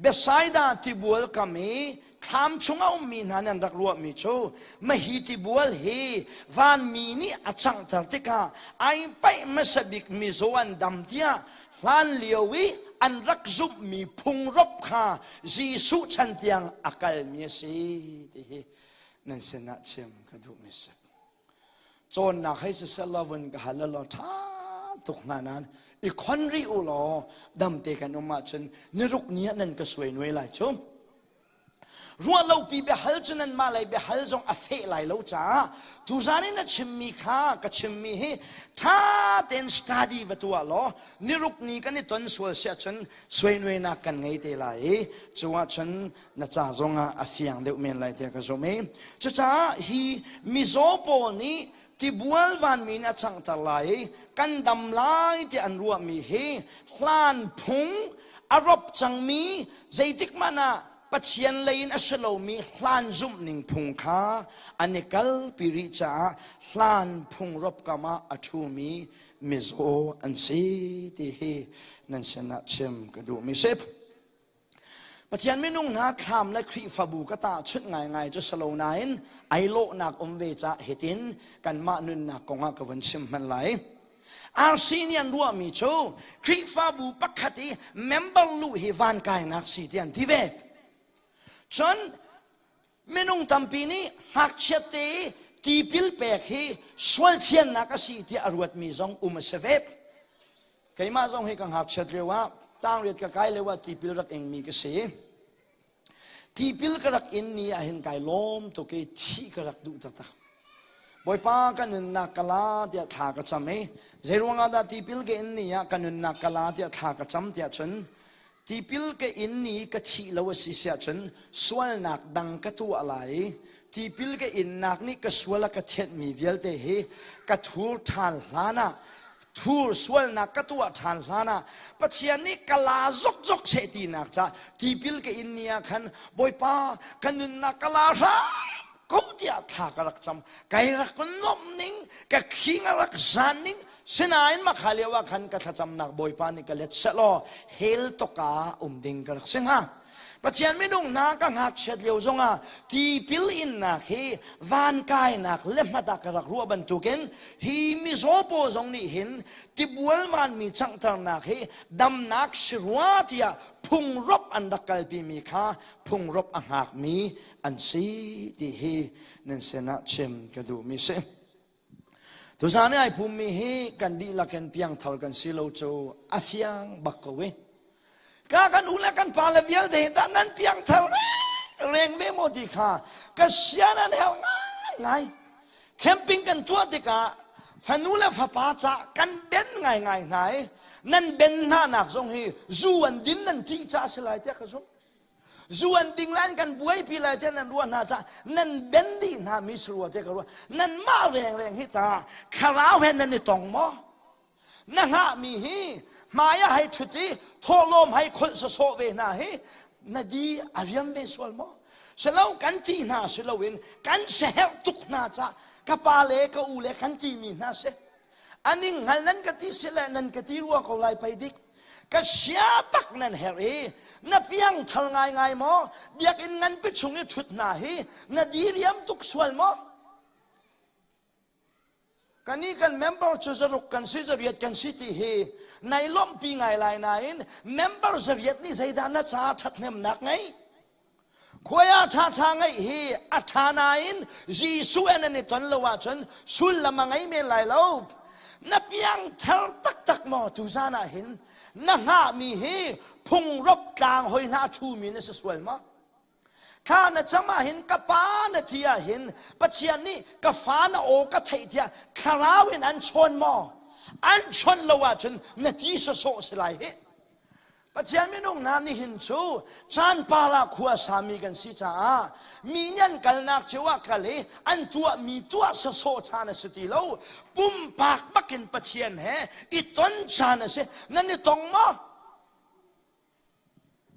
Bethsaida tibual kam i thlam chung a ummi hna nih an rak ruahmi cu mahiti bual hi vanmi nih a changhter tikah ai paih hmasa bik mizaw an dam tiah hlan lio i an rak zumhmi phungrop kha Jesuh chan tiang a kalmi a si ti hi nan sinah chim ka duhmi a si. Cawnnak hei siseh lovin ka hal law ṭha tuk hna nan i khon rih u law damte kan um ahcun niruk ni ah nan ka suai nuai lai cu ruah lopi biahal cu nanmah lei biahal zong a feh lai lo caah tuzan i na chimmi kha ka chimmi hi ṭha tein study va tuah law niruk ni kan i ton sual si ahcun suai nuainak kan ngei te lai i cu ahcun na ca zongah a fiang deuh men lai tiah ka zumh i cucaah hi mizaw pawl nih tibual vanmi in a changhter lai i kan dam lai tiah an ruahmi hi hlan phung a rop cangmi zeitik hmanh ah Pathian lei in a si lomi hlan zumhning phung kha an i kalpi rih caah hlan phung rop kam ah a ṭhumi mizaw an si ti hi nan sinah chim ka duhmi si. Pathian minung hna thlam le Khrihfabu ka tahchunh ngaingai cu si lo nain ai lawhnak um ve cah hitin kanmah nunnak kongah ka vun chim hman lai. RC nih an ruahmi cu Khrihfabu pakhat i member lu hi van kainak si ti an ti ve. Cun minung tampi nih ngakchiatte i tipil pek hi sualthiannak a si tiah a ruatmi zong um a si ve keimah zong hi ka ngakchiat lio ah tangriat ka kai lio ah tipil rak ingmi ka si tipil ka rak in ni ah hin kai lawm tuk i thih ka rak duh taktak bawipa ka nunnak ka la tiah thla ka cam i zeiruang ah dah tipil ke in ni ah ka nunnak ka la tiah thla ka cam tiah cun Tipil ka in i ka thih lo a si siah cun sualnak dang ka tuah lai. Tipil ka innak nih ka sual a ka thianhmi vialte hi ka thur ṭhan hlan ah thur sualnak ka tuah ṭhan hlan ah Pathian nih ka la zokzok seh tinak ca tipil ka in ni ah khan Bawipa ka nunnak ka la hram ko tiah thla ka rak cam kai rak nuamh ning ka khing a rak zan ning sinain makha lio ah khan ka thlacamnak bawipa nih ka let set law hel toka um ding ka rak si hnga Pathian minung hna ka ngakchiat lio zongah tipil innak hi van kainak le hmata ka rak ruah bantukin hi mizaw paw zong nih hin tibualman mi changtharnak hi damnak si rua tiah phungrop an rak kalpi mi kha phungrop a hngak mi an si ti hi nan sinah chim ka duhmi si tusa ni ai phummi hi kan dihlak in piangthar kan si lo cu a fiang bak ko e ka kan u le kan pa le vialte hi tah nan piangthar reng ve mo ti kha ka sian an hel ngai ngai camping kan tuah tikah fanu le fapa ca kan den ngai ngai hna i nan den hna nak zong hi zu an din nan ṭih ca a si lai tiah ka zumh zuan ding lan kan buaipi lai tiah nan ruah hna cah nan ben dih hna mi sarua te ka ruah nan mah rengreng hi ta thlarau he nan i tong maw na ngah mi hi hmaya hai ṭhut i thawlawm hai kholh sawsawh ve hna hi na di a riam ve sual maw silo kan ti hna si loin kan seherh tuk hna cah ka pa le ka u le kan ti mi hna si aning hal nan ka ti si le nan ka ti rua ko lai pei dik ka chia tak nan herh i na piangthar ngaingai maw biakinn nganpi chung i ṭhut hna hi na diriam tuk sual maw kan i kan member cu zaruk kan si zariat kan si ti hi nai lawmhpi ngai lai nain member zariat nih zeidah na caah ṭhathnemnak ngei Khuaya ṭhaṭha ngeih hi a ṭha nain Jesuh in an i ton lo ahcun sullam a ngei men lai lo. Na piangthar taktak maw tuzan ah hin na hngahmi hi phungrop tlang hoi hna a ṭhumi na si sual maw? Kha na cang ah hin ka pa na ti ah hin Pathian nih ka fa na aw ka theih tiah thlarau in an chawn maw? An chawn lo ahcun na ti sawsawh si lai hih. Pathian minung hna nihin cu chan parah khua sami kan si caah mi nih an kalnak cio ah kal i an tuahmi tuah sasawh caan a si ti lo pumpak bakin Pathian he i ton caan a si nan i tong maw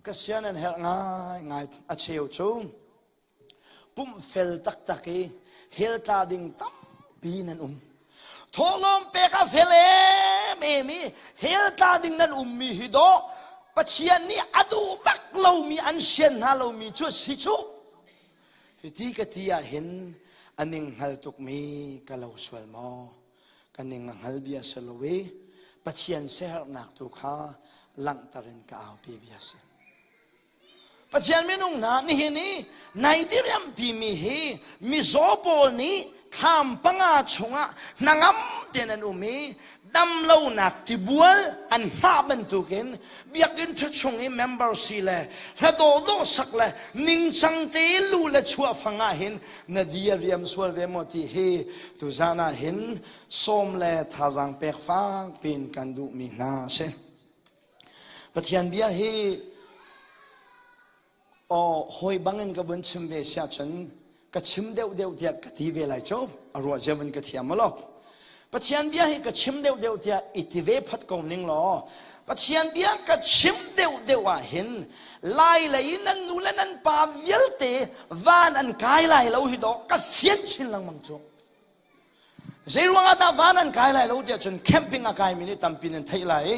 ka sian an herh ngaingai a cheu cu Pumhfel taktak i hel tla ding tampi nan um. Thawhlawm pek a fel em em i hel tla ding nan ummi hi do Pathian nih a duh bak lomi an sian hna lomi cu si cu hiti ka ti ah hin a ning hngal tukmi ka lo sual maw ka ning a hngal bia si lo i Pathian siaherhnak tu kha langhter in ka aupi bia si. Pathian minung hna nihin i nai diriampi mi hi mizaw pawl nih thlam panga chungah hnangam tein an um i damlonak tibual an hmah bantukin biakinn ṭhathung i membersi le hladawdawh sak le ningcang te lu le chuahfang ah hin na di a riam sual ve maw ti hi tuzan ah hin sawm le thazaang pek fak piin kan duhmi hna a si. Pathian bia hi aw hawi bangin ka vun chim ve sia cun ka chim deuh deuh tiah ka ti ve lai cu a ruah zemin ka thiam lo Pathian bia hi ka chim deuh deuh tiah i ti ve phat ko ning law Pathian bia ka chim deuh deuh ah hin lai lei nan nu le nan pa vialte van an kai lai lo hi do ka fian chin lengmang cu Zeiruangah dah van an kai lai lo tiah cun camping a kaimi nih tampi nan theih lai i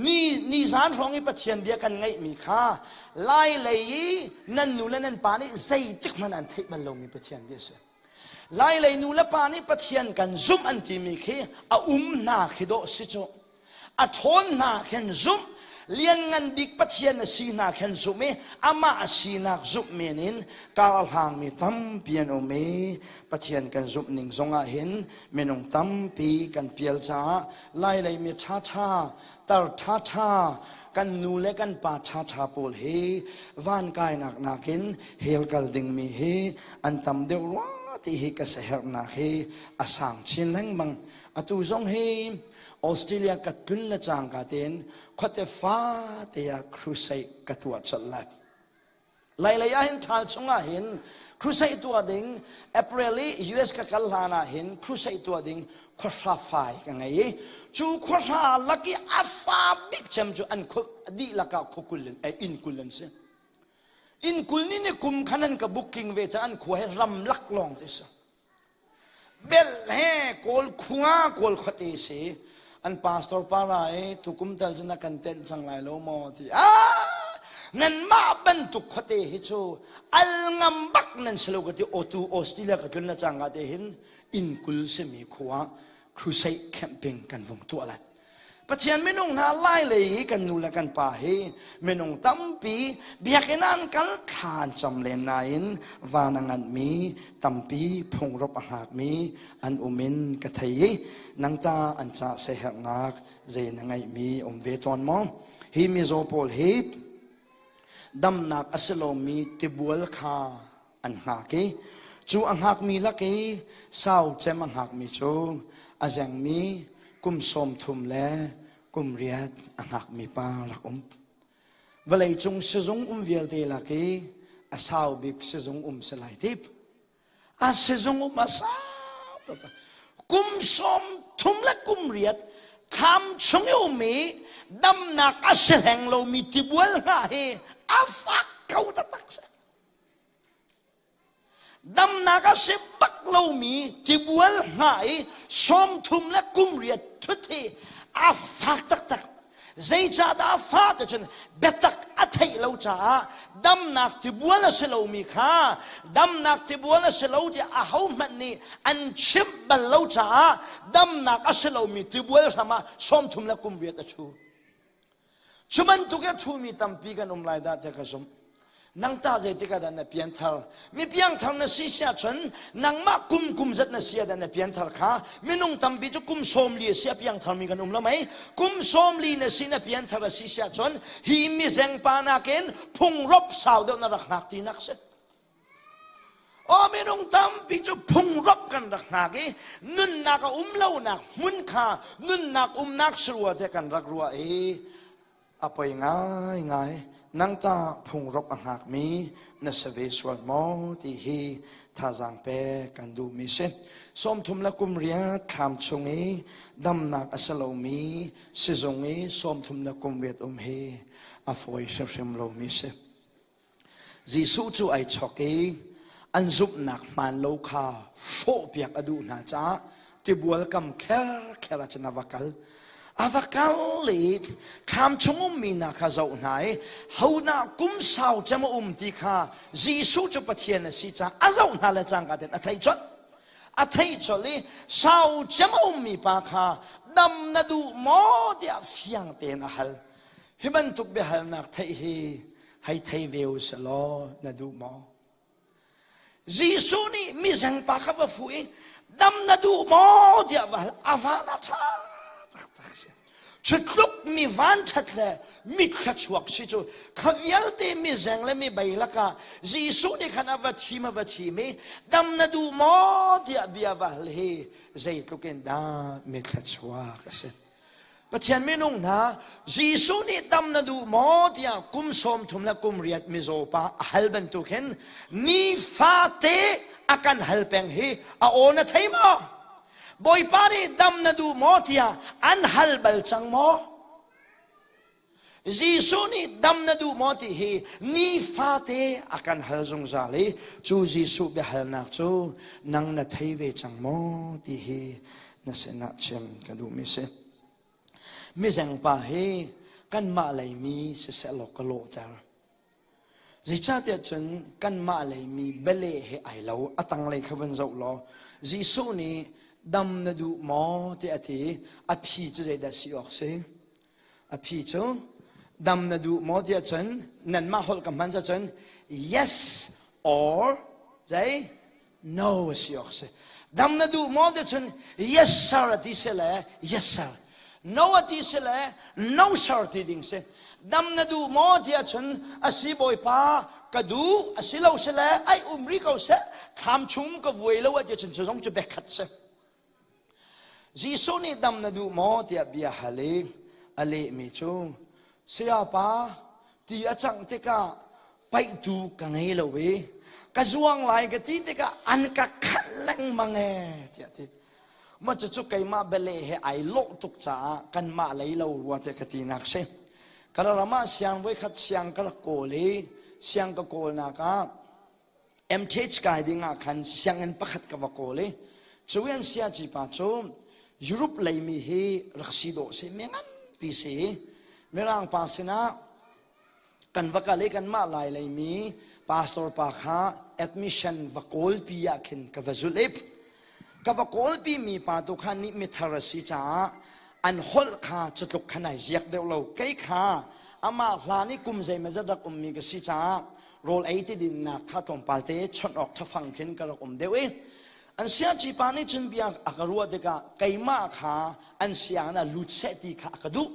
ni ni zan hrawng i Pathian bia kan ngaihmi kha lai lei i nan nu le nan pa nih zeitik hmanh an theih bal lomi Pathian bia a si. Lai lei nu le pa nih Pathian kan zumh an timi khi a um hna khi dawh si cu A ṭhawn hna khin zumh, Lianngan Bik Pathian a si hna khin zumh i amah a sinak zumh men in karhlangmi tampi an um i Pathian kan zumh ning zongah hin minung tampi kan pial caah lailei mi ṭhaṭha, tar ṭhaṭha, kan nu le kan pa ṭhaṭha pawl hi van kainak nakin hell kal dingmi hi an tam deuh rua ti hi ka saherhnak hi a sang chin lengmang. Atu zong hi Australia ka tlun le cangka tein khuate fate ah crusade ka tuah colh lai. Lai lei ah hin ṭhal chung ah hin crusade tuah ding April i US ka kal hlan ah hin crusade tuah ding khuahra fai ka ngei i cu khuahra lak i a fa bik cem cu an khuk dihlak ah khukul in eh, inn kul an si inn kul ni ni kum khan an ka booking ve caah an khua hi ram lak lawng te si Bel he Kawl khung ah Kawl khuate a si. An pastor para i tukum tal cun a kan tenh cang lai lo maw ti. Ah! Nanmah bantuk khuate hi cu al ngam bak nan si lo ka ti otu Australia ka tlun le cangka te hin inn kul simi khua crusade camping kan vung tuah lai. Pathian minung hna lailei i kan nu le kan pa hi minung tampi biakinn an kal than cam len nain van a nganmi tampi phungrop a hngakmi an um in ka thei i nang ta an ca sehernak zei na ngeihmi um ve tawn maw hi mizaw pawl hi damnak a si lomi tibual kha an hngak i cu a hngakmi lak i sau cem a hngakmi cu a zengmi kum sawm thum le kum riat a hngakmi pa rak um vawlei cung sizung um vialte lak i a sau bik sizung um si lai tip a sizung um a sau tuk kum sawm thum le kum riat tham chung i um i damnak a si hleng lomi tibual hna hi a fak ko taktak si damnak a si bak lomi tibual hna i sawmthum le kumriat thut hi a fak taktak zeicahdah a fak cun biatak a theih lo caah damnak tibual a si lomi kha damnak tibual a si lo tiah ahohmanh nih an chimh bal lo caah damnak a si lomi tibual hram ah sawmthum le kumriat a chu Cu bantuk i a ṭhumi tampi kan um lai dah tiah ka zumh. Nang tah zeitik ah dah na pianthar? Mi piangthar na si siah chun nangmah kum kum zat na si ah dah na pianthar kha minung tampi cu kum sawmli a si a piangtharmi kan um lo mei. Kum sawmli na si na pianthar a si siah chun hi mizeng pa nakin phungrop sau deuh na rak hngak tinak si. Aw minung tampi cu phungrop kan rak hnak i nunnak a um lonak hmun kha nunnak umnak sarua te kan rak ruah i a poi ngai ngai nang tah phungrop a hngak mi na sa ve sual maw ti hi thazaang pek kan duh mi si sawmthum le kum riat thlam chung i damnak a sa lo mi sizung i sawmthum le kum riat um hi a fawi hrimhrim lo mi si Jesuh cu ai chawk i an zumhnak hmaan lo kha hrawhpiak a duh hna caah tibual kam kherkher ah cun a va kal. A va kal i kham chung ummi hna kha zoh hna i hodah kum sau cem a um ti kha Jesuh cu Pathian a si caah a zoh hna le cangka ten a thei chawnh. A thei chawlh i sau cem a ummi pa kha dam na duh maw tiah fiang tein a hal. Hi bantuk biahalnak theih hi hei thei ve u sih law na duh maw? Jesuh nih mizeng pa kha va fuh i dam na duh maw tiah va hal a va na ṭha taktak si thutluk mi vanṭhat le mit thluachuak si cu kha vialte mizeng le mi bei lakah Jesuh nih khan a va thim a va thim i dam na duh maw tiah bia va hal hi zeitluk in dah mi thluachuak a si Pathian minung hna Jesuh nih tam na duh maw tiah kum sawm thum le kum riat mizaw pa a hal bantuk hin nifate a kan hal peng hi a aw na thei maw Bawipa nih dam na duh maw tiah an hal bal cang maw Jesuh nih dam na duh maw ti hi nifate a kan hal zungzal i cu Jesuh biahalnak cu nang na thei ve cang maw ti hi na sinah chim ka duhmi si. Mizengpa hi kanmah lei mi siseh law ka lawhter. Zeicahtiah cun kanmah lei mi bele he ai lo a tanglei kha vun zoh law Jesuh nih dam na duh maw ti a ti i a phi cu zeidah si awk si? a phi cu dam na duh maw tiah cun nanmah holh ka hman cun yes or zei no a si awk si dam na duh maw tiah cun yes sir a ti si le yes sir no a ti si le no sir ti ding si dam na duh maw tiah cun asi bawipa ka duh asi lo si le ai um ri ko seh kham chung ka vuai lo a ti cun cu zong cu bekhat si Jesuh nih dam na duh maw tiah bia hal i a lehmi cu sayapa ti a cangh tikah paihtu ka ngei lo i ka zuang lai ka ti tikah an ka khalh lengmang ee tiah a ti ma cucu keimah bele he ai lawh tuk caah kanmah lei lo rua tiah ka tinak si ka ram ah siang voikhat siang ka rak kawl i siang ka kawlnak ah MTH kai ding ah khan sianginn pakhat ka va kawl i cu an siaci pa cu Europe lei mi hi rak si dawh si me nganpi si mirang pa sinah kan va kal i kanmah lai lei mi pastor pa kha admission va kawl pi ah khin ka va zulh i ka va kawlpi mi pa tu kha nih mithar a si caah an holh kha cutluk khan ai ziak deuh lo kei kha amah hlan i kum zeimah zat rak ummi ka si caah rawl ei ti dinnak kha tlawmpal te chawnh awk ṭhafang khin ka rak um deuh i an siaci pa nih cun bia a ka ruah tikah keimah kha an sianginn ah lut seh ti kha a ka duh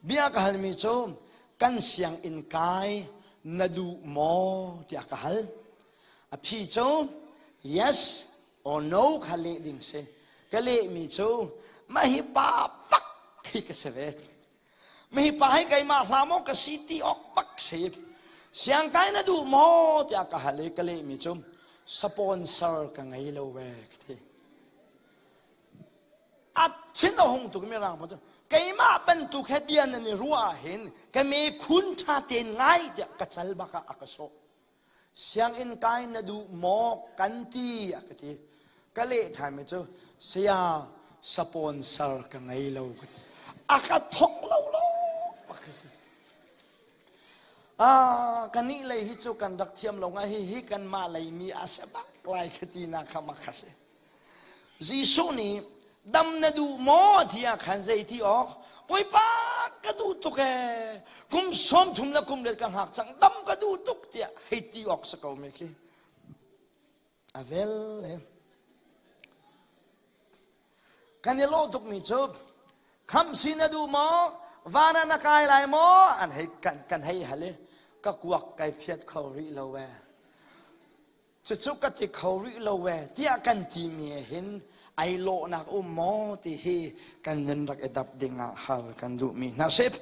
bia ka halmi cu kan sianginn kai na duh maw tiah ka hal A phi cu yes or no kha leh ding si. Ka lehmi cu mah hi pa pak khi ka si ve. Mah hi pa hi keimah hla maw ka si ti awk bak si. Siang kai na duh maw tiah ka hal i ka lehmi cu sponsor ka ngei lo ve ka ti. A thin a hung tuk mi rang pa cu keimah bantuk he bia nan i ruah ah hin ka me khun tha ten ngai tiah ka cal bak ah a ka sawh. sianginn kai na duh maw kan ti a ka ti ka leh ṭhaimi cu saya sponsor ka ngei lo ka ti a ka thok lo lo a ka si ah kan nih lei hi cu kan rak thiam lo nga hi hi kan mah lei mi a se bak lai ka ti na kha ma kha si Jesuh nih dam na duh maw tiah khan zei ti awk Bawipa ka duh tuk ee kum sawm thum le kum riat ka hngak cang dam ka duh tuk tiah hei ti awk si ko me khi a vel kan i lawh tukmi cu kham si na duh maw van ah na kai lai maw an hei kan kan hei hal i ka kuak kai phiat kho rih lo ee Cucu ka ti kho rih lo ve tiah kan timi ah hin ai lawhnak um maw ti hi kan nun rak i dap ding ah hal kan duhmi hna sip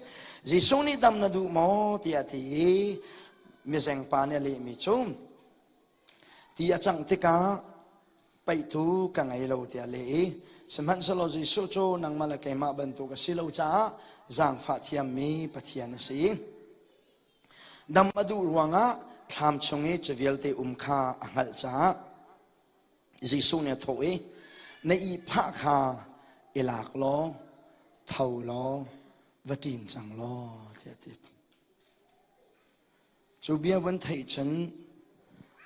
Jesuh nih dam na duh maw tiah ti i mizeng pa nih a lehmi cu ti a cangh tikah paihtu ka ngei lo tiah leh i sihmanhsehlaw Jesuh cu nangmah le keimah bantuk a si lo caah zaangfah thiammi Pathian a si. Dam a duh ruangah thlam chung i cu vialte um kha a hngalh caah Jesuh nih a thawh i, Na ihphah kha i lak law tho law va ṭin cang law tiah a ti. Cu bia van theih cun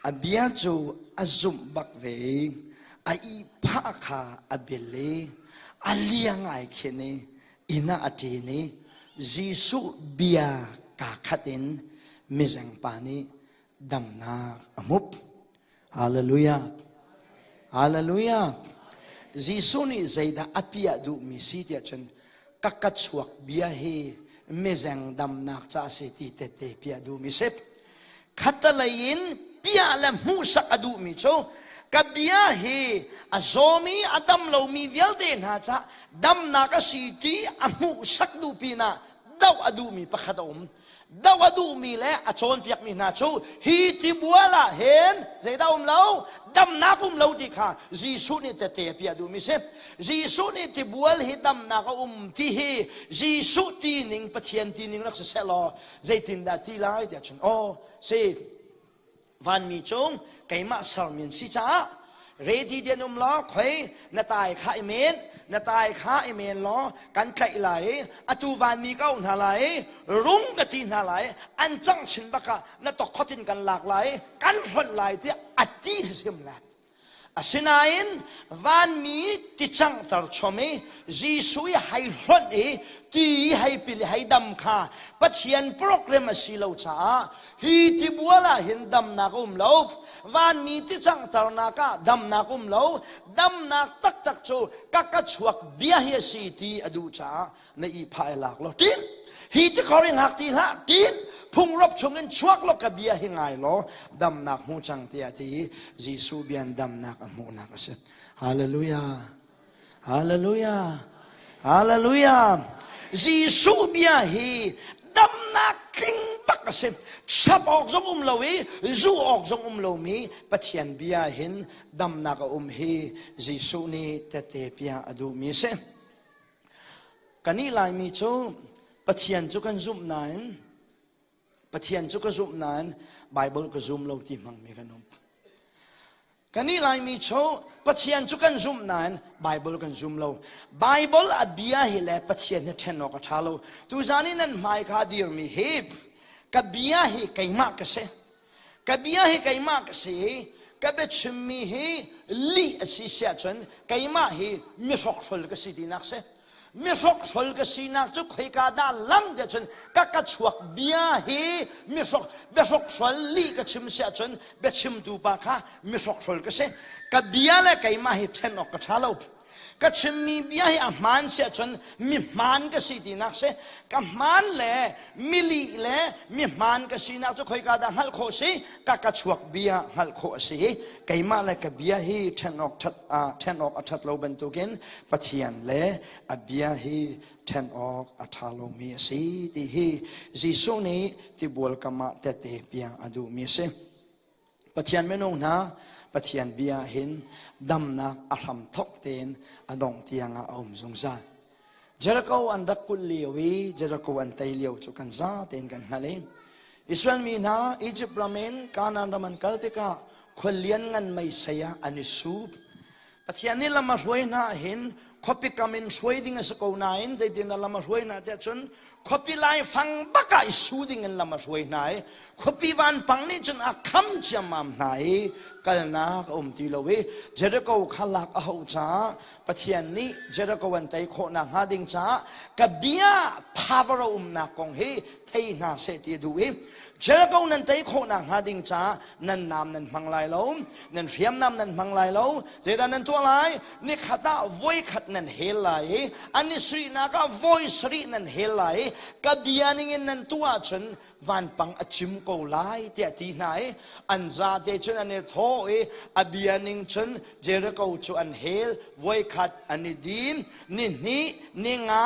A bia cu a zumh bak ve i a ihphah kha a bil i a liang ai khin i inn ah a ṭin i Jesuh bia kaa khat in mizeng pa nih damnak a hmup. Hallelujah! Hallelujah! Jesuh nih zeidah a piah duhmi si tiah cun ka ka chuak bia hi mizeng damnak ca a si ti tete piah duhmi sip khatalei in piah le hmuhsak a duhmi cu ka bia hi a zawmi a dam lomi vialte hna cah damnak a si ti a hmuhsak duh pinah doh a duhmi pakhat a um doh a duhmi le a cawnpiakmi hna cu hi tibual ah hin zeidah um lo damnak um lo ti kha Jesuh nih tete a piah duhmi si Jesuh nih tibual hi damnak a um ti hi Jesuh ti ning Pathian ti ning rak si seh law zeitindah ti lai tiah cun aw si vanmi cung keimah sermi an si caah ready dian um law khoi na tai kha i men na tai kha i men law kan tlaih lai i atu vanmi ko hna lai rung na ti hna lai an cang chin bak ah na tok khotin kan lak lai kan hlonh lai tiah a ti hrim lai Asinain vanmi ti canghter chom i Jesuh i hei hlonh i ti i hei pil i hei dam kha Pathian program a si lo caah hi tibual ah hin damnak a um lo vanmi ti canghternak ah damnak um lo damnak taktak cu ka ka chuak bia hi a si ti a duh caah na i phai lak lo tin hi ti khori ngak ti hlah tin phung rop chung in chuak lo ka bia hi ngai lo damnak hmu chang tia ti Jesuh bian damnak a hmuhnak a si hallelujah hallelujah hallelujah Jesuh bia hi damnak tling bak a si chap awk zong um lo i zu awk zong um lo mi Pathian bia hin damnak a um hi Jesuh nih tete pia a duh mi si Kan ih Laimi cu Pathian cu kan zumh nain Pathian cu ka zumh nain Baibal ka zum lo ti hmangmi kan um. Kan ih Laimi cu Pathian cu kan zumh nain Baibal kan zum lo. Baibal a bia hi le Pathian hi ṭhen awk a ṭha lo. Tuzan i nan hmai kha a dirmi hi ka bia hi keimah ka si. ka bia hi keimah ka si ka biachimmi hi lih a si siah cun keimah hi mihrokhrol ka si tinak si mihrokhrol ka sinak cu khoika dah lam tiah cun ka ka chuak bia hi mihrok biahrokhhrol lih ka chim siah cun biachimtu pa kha mihrokhrol ka si ka bia le keimah hi ṭhen awk ka ṭha lo Ka chimmi bia hi a hmaan si ahcun mi hmaan ka si tinak si. Ka hmaan le mili le mi hmaan ka sinak cu khoika dah hngalh khawh si? Ka ka chuak bia hngalh khawh a si i keimah le ka bia hi ṭhen awk, ṭhat, ṭhen awk a ṭhat lo bantukin Pathian le a bia hi ṭhen awk a ṭha lomi a si ti hi Jesuh nih tibual kam ah tete piang a duhmi a si. Pathian minung hna Pathian bia hin damnak a hram thok tein a dong tiangah a um zungzal. Jericho an rak kulh lio i Jericho an tei lio cu kan za tein kan hngal i Israel mi hna Egypt ram in Canaan ram an kal tikah khual lian ngan mei sei ah an i sup. Pathian nih lam a hruai hna hin khuapi kam in hruai ding a si ko nain zeitin lam a hruai hna tiah cun khuapi laifang bak ah i su ding in lam a hruai hna i khuapi vanpang nih cun a kham ciammam hna i kalnak a um ti lo i Jericho kha lak a hauh caah Pathian nih Jericho an tei khawh nakhnga ding caah ka bia power a umnak kong hi thei hna seh ti a duh i Jericho nan tei khawh nakhnga ding caah nan nam nan hmang lai lo nan hriamnam nan hmang lai lo zeidah nan tuah lai nikhat ah voi khat nan hel lai i an i suihnak ah voi sarih nan hel lai i ka bia ning in nan tuah ahcun vanpang a cim ko lai tiah ti hna i an zate cun an i thawh i a bia ning cun Jericho cu an hel voi khat an i din ni hnih ni nga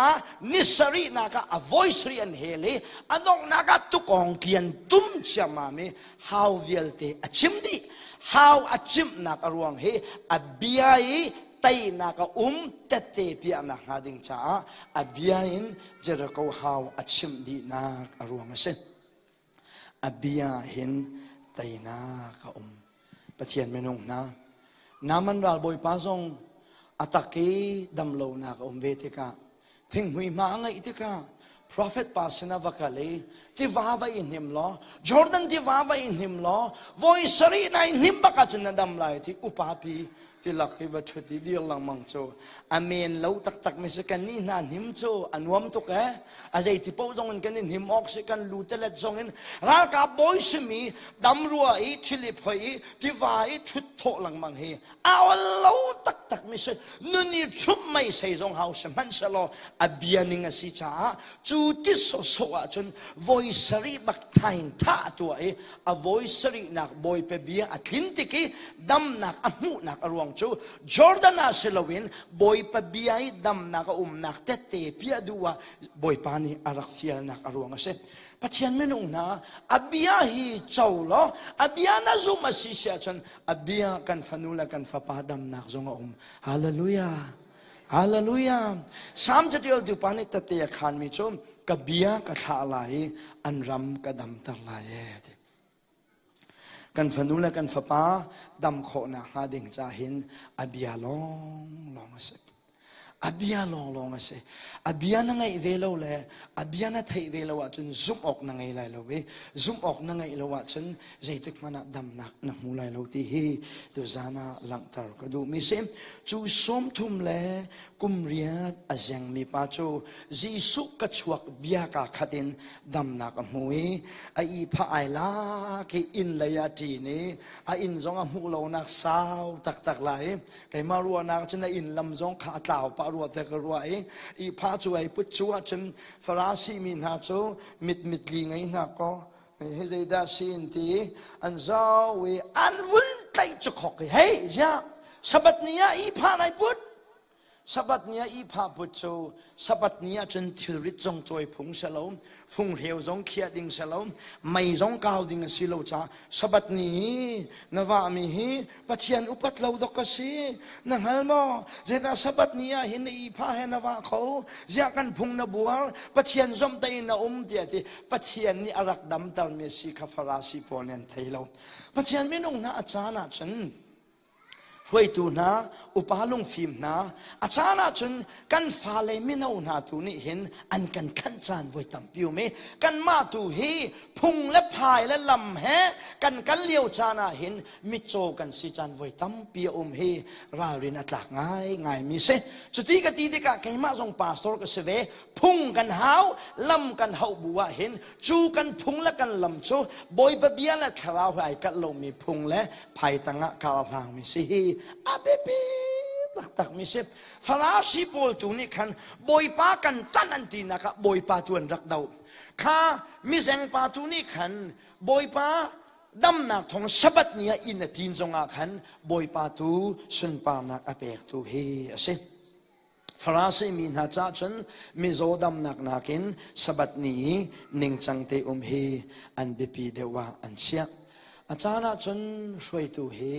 ni sarihnak ah a voi sarih an hel i a donghnak ah tukong kian tum ciammam i hau vialte a chim dih hau a chimhnak a ruang hi a bia i teinak a um tette piahnak hnga ding caah a bia in Jericho hau a chimh dihnak a ruang a si a bia hin teinak a um Pathian minung hna naman ral bawipa zong a tak i damlonak a um ve tikah thinghmui hma a ngeih tikah profet pa sinah va kal i tiva va i hnim law jordan tiva va i hnim law voi sarih nai hnim bak ah cun na dam lai ti upapi ti lak i va ṭhut i dir lengmang cu amen lo taktak mi si kan nih hna hnim cu a nuam tuk e a zei ti po zong in kan i hnim awk si kan lu telet zong in ralkap bawi simi dam rua i thilip hoi i tiva i ṭhut thawh lengmang hi a ol lo taktak mi si nun i thlum mei sei zong hau si hmanhselaw a bia ning a si caah cu ti sawsawh ahcun voi sarih bak thain tha a tua i a voi sarih nak bawipe bia a tlin tik i damnak a hmuhnak a ruang cu Jordan ah si loin bawipa bia i damnak a umnak tette pia duh ah bawipa nih a rak fialnak a ruang a si Pathian minung hna a bia hi co law a bia na zumh a si si ahcun a bia kan fanu le kan fapa damnak zong a um hallelujah hallelujah psalm caṭial tu pa nih tate a khanmi cu ka bia ka thlah lai i an ram ka damter lai ee kan fanu le kan fapa dam khawh nakhnga ding ca hin a bia long long a si a bia lawnglawng a si a bia na ngeih ve lo le a bia na theih ve lo ahcun zumh awk na ngei lai lo i zumh awk na ngeih lo ahcun zeitik hmanh ah damnak na hmu lai lo ti hi tuzan ah langhter ka duhmi si cu sawm thum le kum riat a zengmi pa cu Jesuh ka chuak bia ka khat in damnak a hmu i a ihpha ai la ke inn lei a ṭin i a inn zong a hmuh lonak sau taktak lai Keimah ruahnak cu na inn lam zong kha a tlau pah rua te ka rua i ihpha cu ai put cu ahcun Farasi mi hna cu mitmit li ngei hna kaw hi zeidah si in ti an zau i an vun tlaih cu khok i hei ziak sabat ni ah ihpha nai put sabat ni ah ihpha put cu Sabat ni ahcun thilrit zong cawi phung si lo, funghreu zong khiah ding si lo, mei zong kau ding a si lo ca. Sabat ni hi na vahmi hi Pathian upat lo dok a si. Na hngal maw? Zedah Sabat ni ah hin na ihpha he na vah kho? Ziah kan phung na buar? Pathian zomh tein na um tiah ti Pathian nih a rak damtermi a si kha Farasi pawl nih an thei lo. Pathian minung hna a caan ahcun Hruaitu hna, upa lungfim hna, a caan ahcun kan fale mino hna tu nih hin an kan khanh caan voi tampi um i kanmah tu hi phung le phai le lam he kan kal lio caan ah hin mitcaw kan si caan voi tampi a um hi ralrin a tlak ngaingai mi si. Cuti ka ti tikah keimah zong pastor ka si ve. Phung kan hau, lam kan hauh bu ah hin cu kan phung le kan lam cu Bawipa bia le thlarau he ai kalh lomi phung le phai tangah ka hlang mi si hi a biapi taktak mi si farasi pawl tu nih khan bawipa kan ṭanh an tinak ah bawipa tu an rak do kha mizengpa tu nih khan bawipa damnak thong sabat ni ah in a ṭin zongah khan bawipa tu sunparnak a pek tu hi a si Farasi mi hna cah cun mizaw damnak nakin Sabbath ni i ningcang te um hi an biapi deuh ah an chiah. A caan ah cun hruaitu hi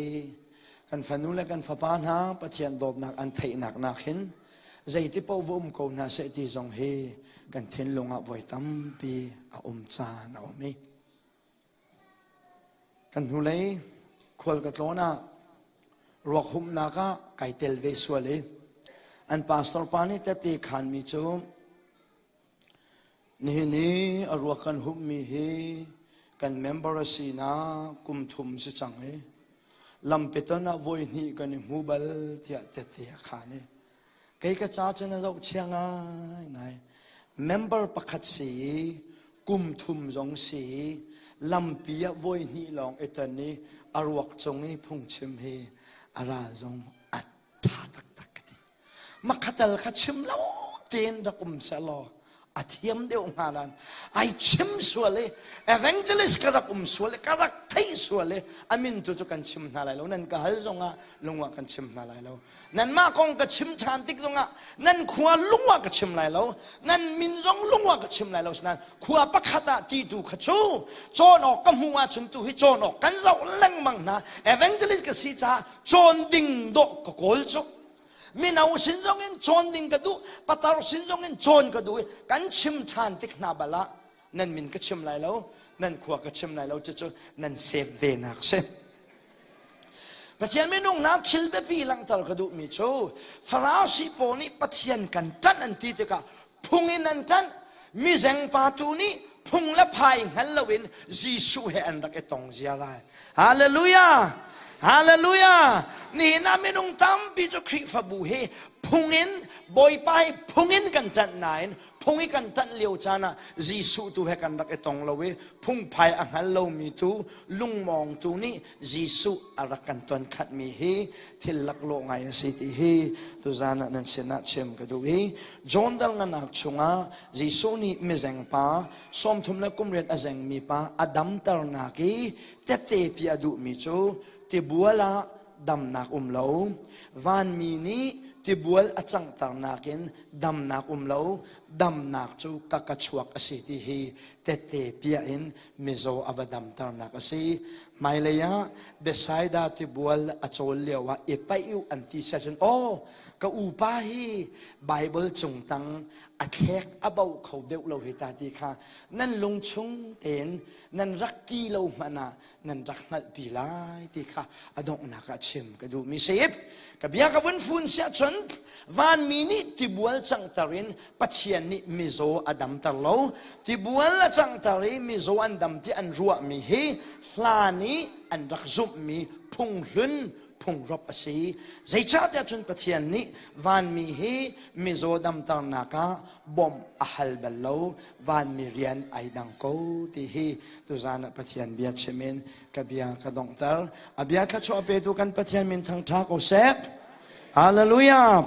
kan fanu le kan fapa hna Pathian dawtnak an theihnak nakin zeiti paoh va um ko hna seh ti zong hi kan thinlung ah voi tampi a um caan a um i Kan hnulei khual ka tlawn ah ruakhumhnak ah kai tel ve sual i an pastor pa nih tete khanmi cu nihin i a ruak kan hummi hi kan member a si na kum thum si cang i lampeton ah voi hnih kan i hmu bal tiah tete a khan i Kei ka ca cu na zohchia ngaingai. Member pakhat si i, kum thum zong si i, lampi ah voi hnih lawng i ton i, a ruak cung i phungchim hi a ral zong a ṭha taktak ka ti. Makhatal kha chim lo tein rak um seh law, a thiam deuh hnga lan ai chim sual i evangelist ka rak um sual i ka rak theih sual i amin tu cu kan chim hna lai lo nan ka hal zongah lungah kan chim hna lai lo nan mah kong ka chim than tik zongah nan khua lungah ka chim lai lo nan min zong lungah ka chim lai lo sinain khua pakhat ah ti tu kha cu cawn awk ka hmuh ahcun tu hi cawn awk kan zoh lengmang hna evangelist ka si caah cawn ding dawh ka kawl cu mino sin zongin cawn ding ka duh patar sin zongin cawn ka duh i kan chim ṭhan tik hna bal ah nan min ka chim lai lo nan khua ka chim lai lo cucu nan save ve nak si Pathian minung na thil biapi langhter ka duhmi cu Farasi pawl nih Pathian kan ṭanh an ti tikah phung in an ṭanh mizengpa tu nih phung le phai hngal loin Jesuh he an rak i tong ziar lai hallelujah hallelujah nihin ah minung tampi cu Khrihfabu hi phung in Bawipa hi phung in kan ṭanh nain phung i kan ṭanh lio caan ah Jesuh tu he kan rak i tong lo i phungphai a hngal lomi tu lungmawng tu nih Jesuh a rak kan ton khatmi hi thil laklawh ngai a si ti hi tuzan ah nan sinah chim ka duh i John dalnganak chungah Jesuh nih mizeng pa sawmthum le kumriat a zengmi pa a damternak i tete pi a duhmi cu tibual ah damnak um lo vanmi nih tibual a canghternak in damnak um lo damnak cu ka ka chuak a si ti hi tette piah in mizaw a va damternak a si hmailei ah Bethsaida tibual a cawl lio ah i paih u an ti siah cun aw ka upa hi Bible cung tang a thlek a bau kho deuh lo hi ta ti kha nan lungchung tein nan rak ti lo hmanh ah nan rak hngalhpi lai ti kha a donghnak ah chim ka duhmi sip ka bia ka vun fun siah cun vanmi nih tibual cangter in Pathian nih mizaw a damter lo. Tibual a canghter i mizaw an dam ti an ruahmi hi hla nih an rak zumhmi phunghlun phungrop a si. Zeicahtiah cun Pathian nih vanmi hi mizaw damternak ah bawmh a hal bal lo. Vanmi rian ai dang ko ti hi tuzan ah Pathian bia chim in ka bia ka donghter. A bia kha chu a petu kan Pathian min thangtha ko seh. Hallelujah.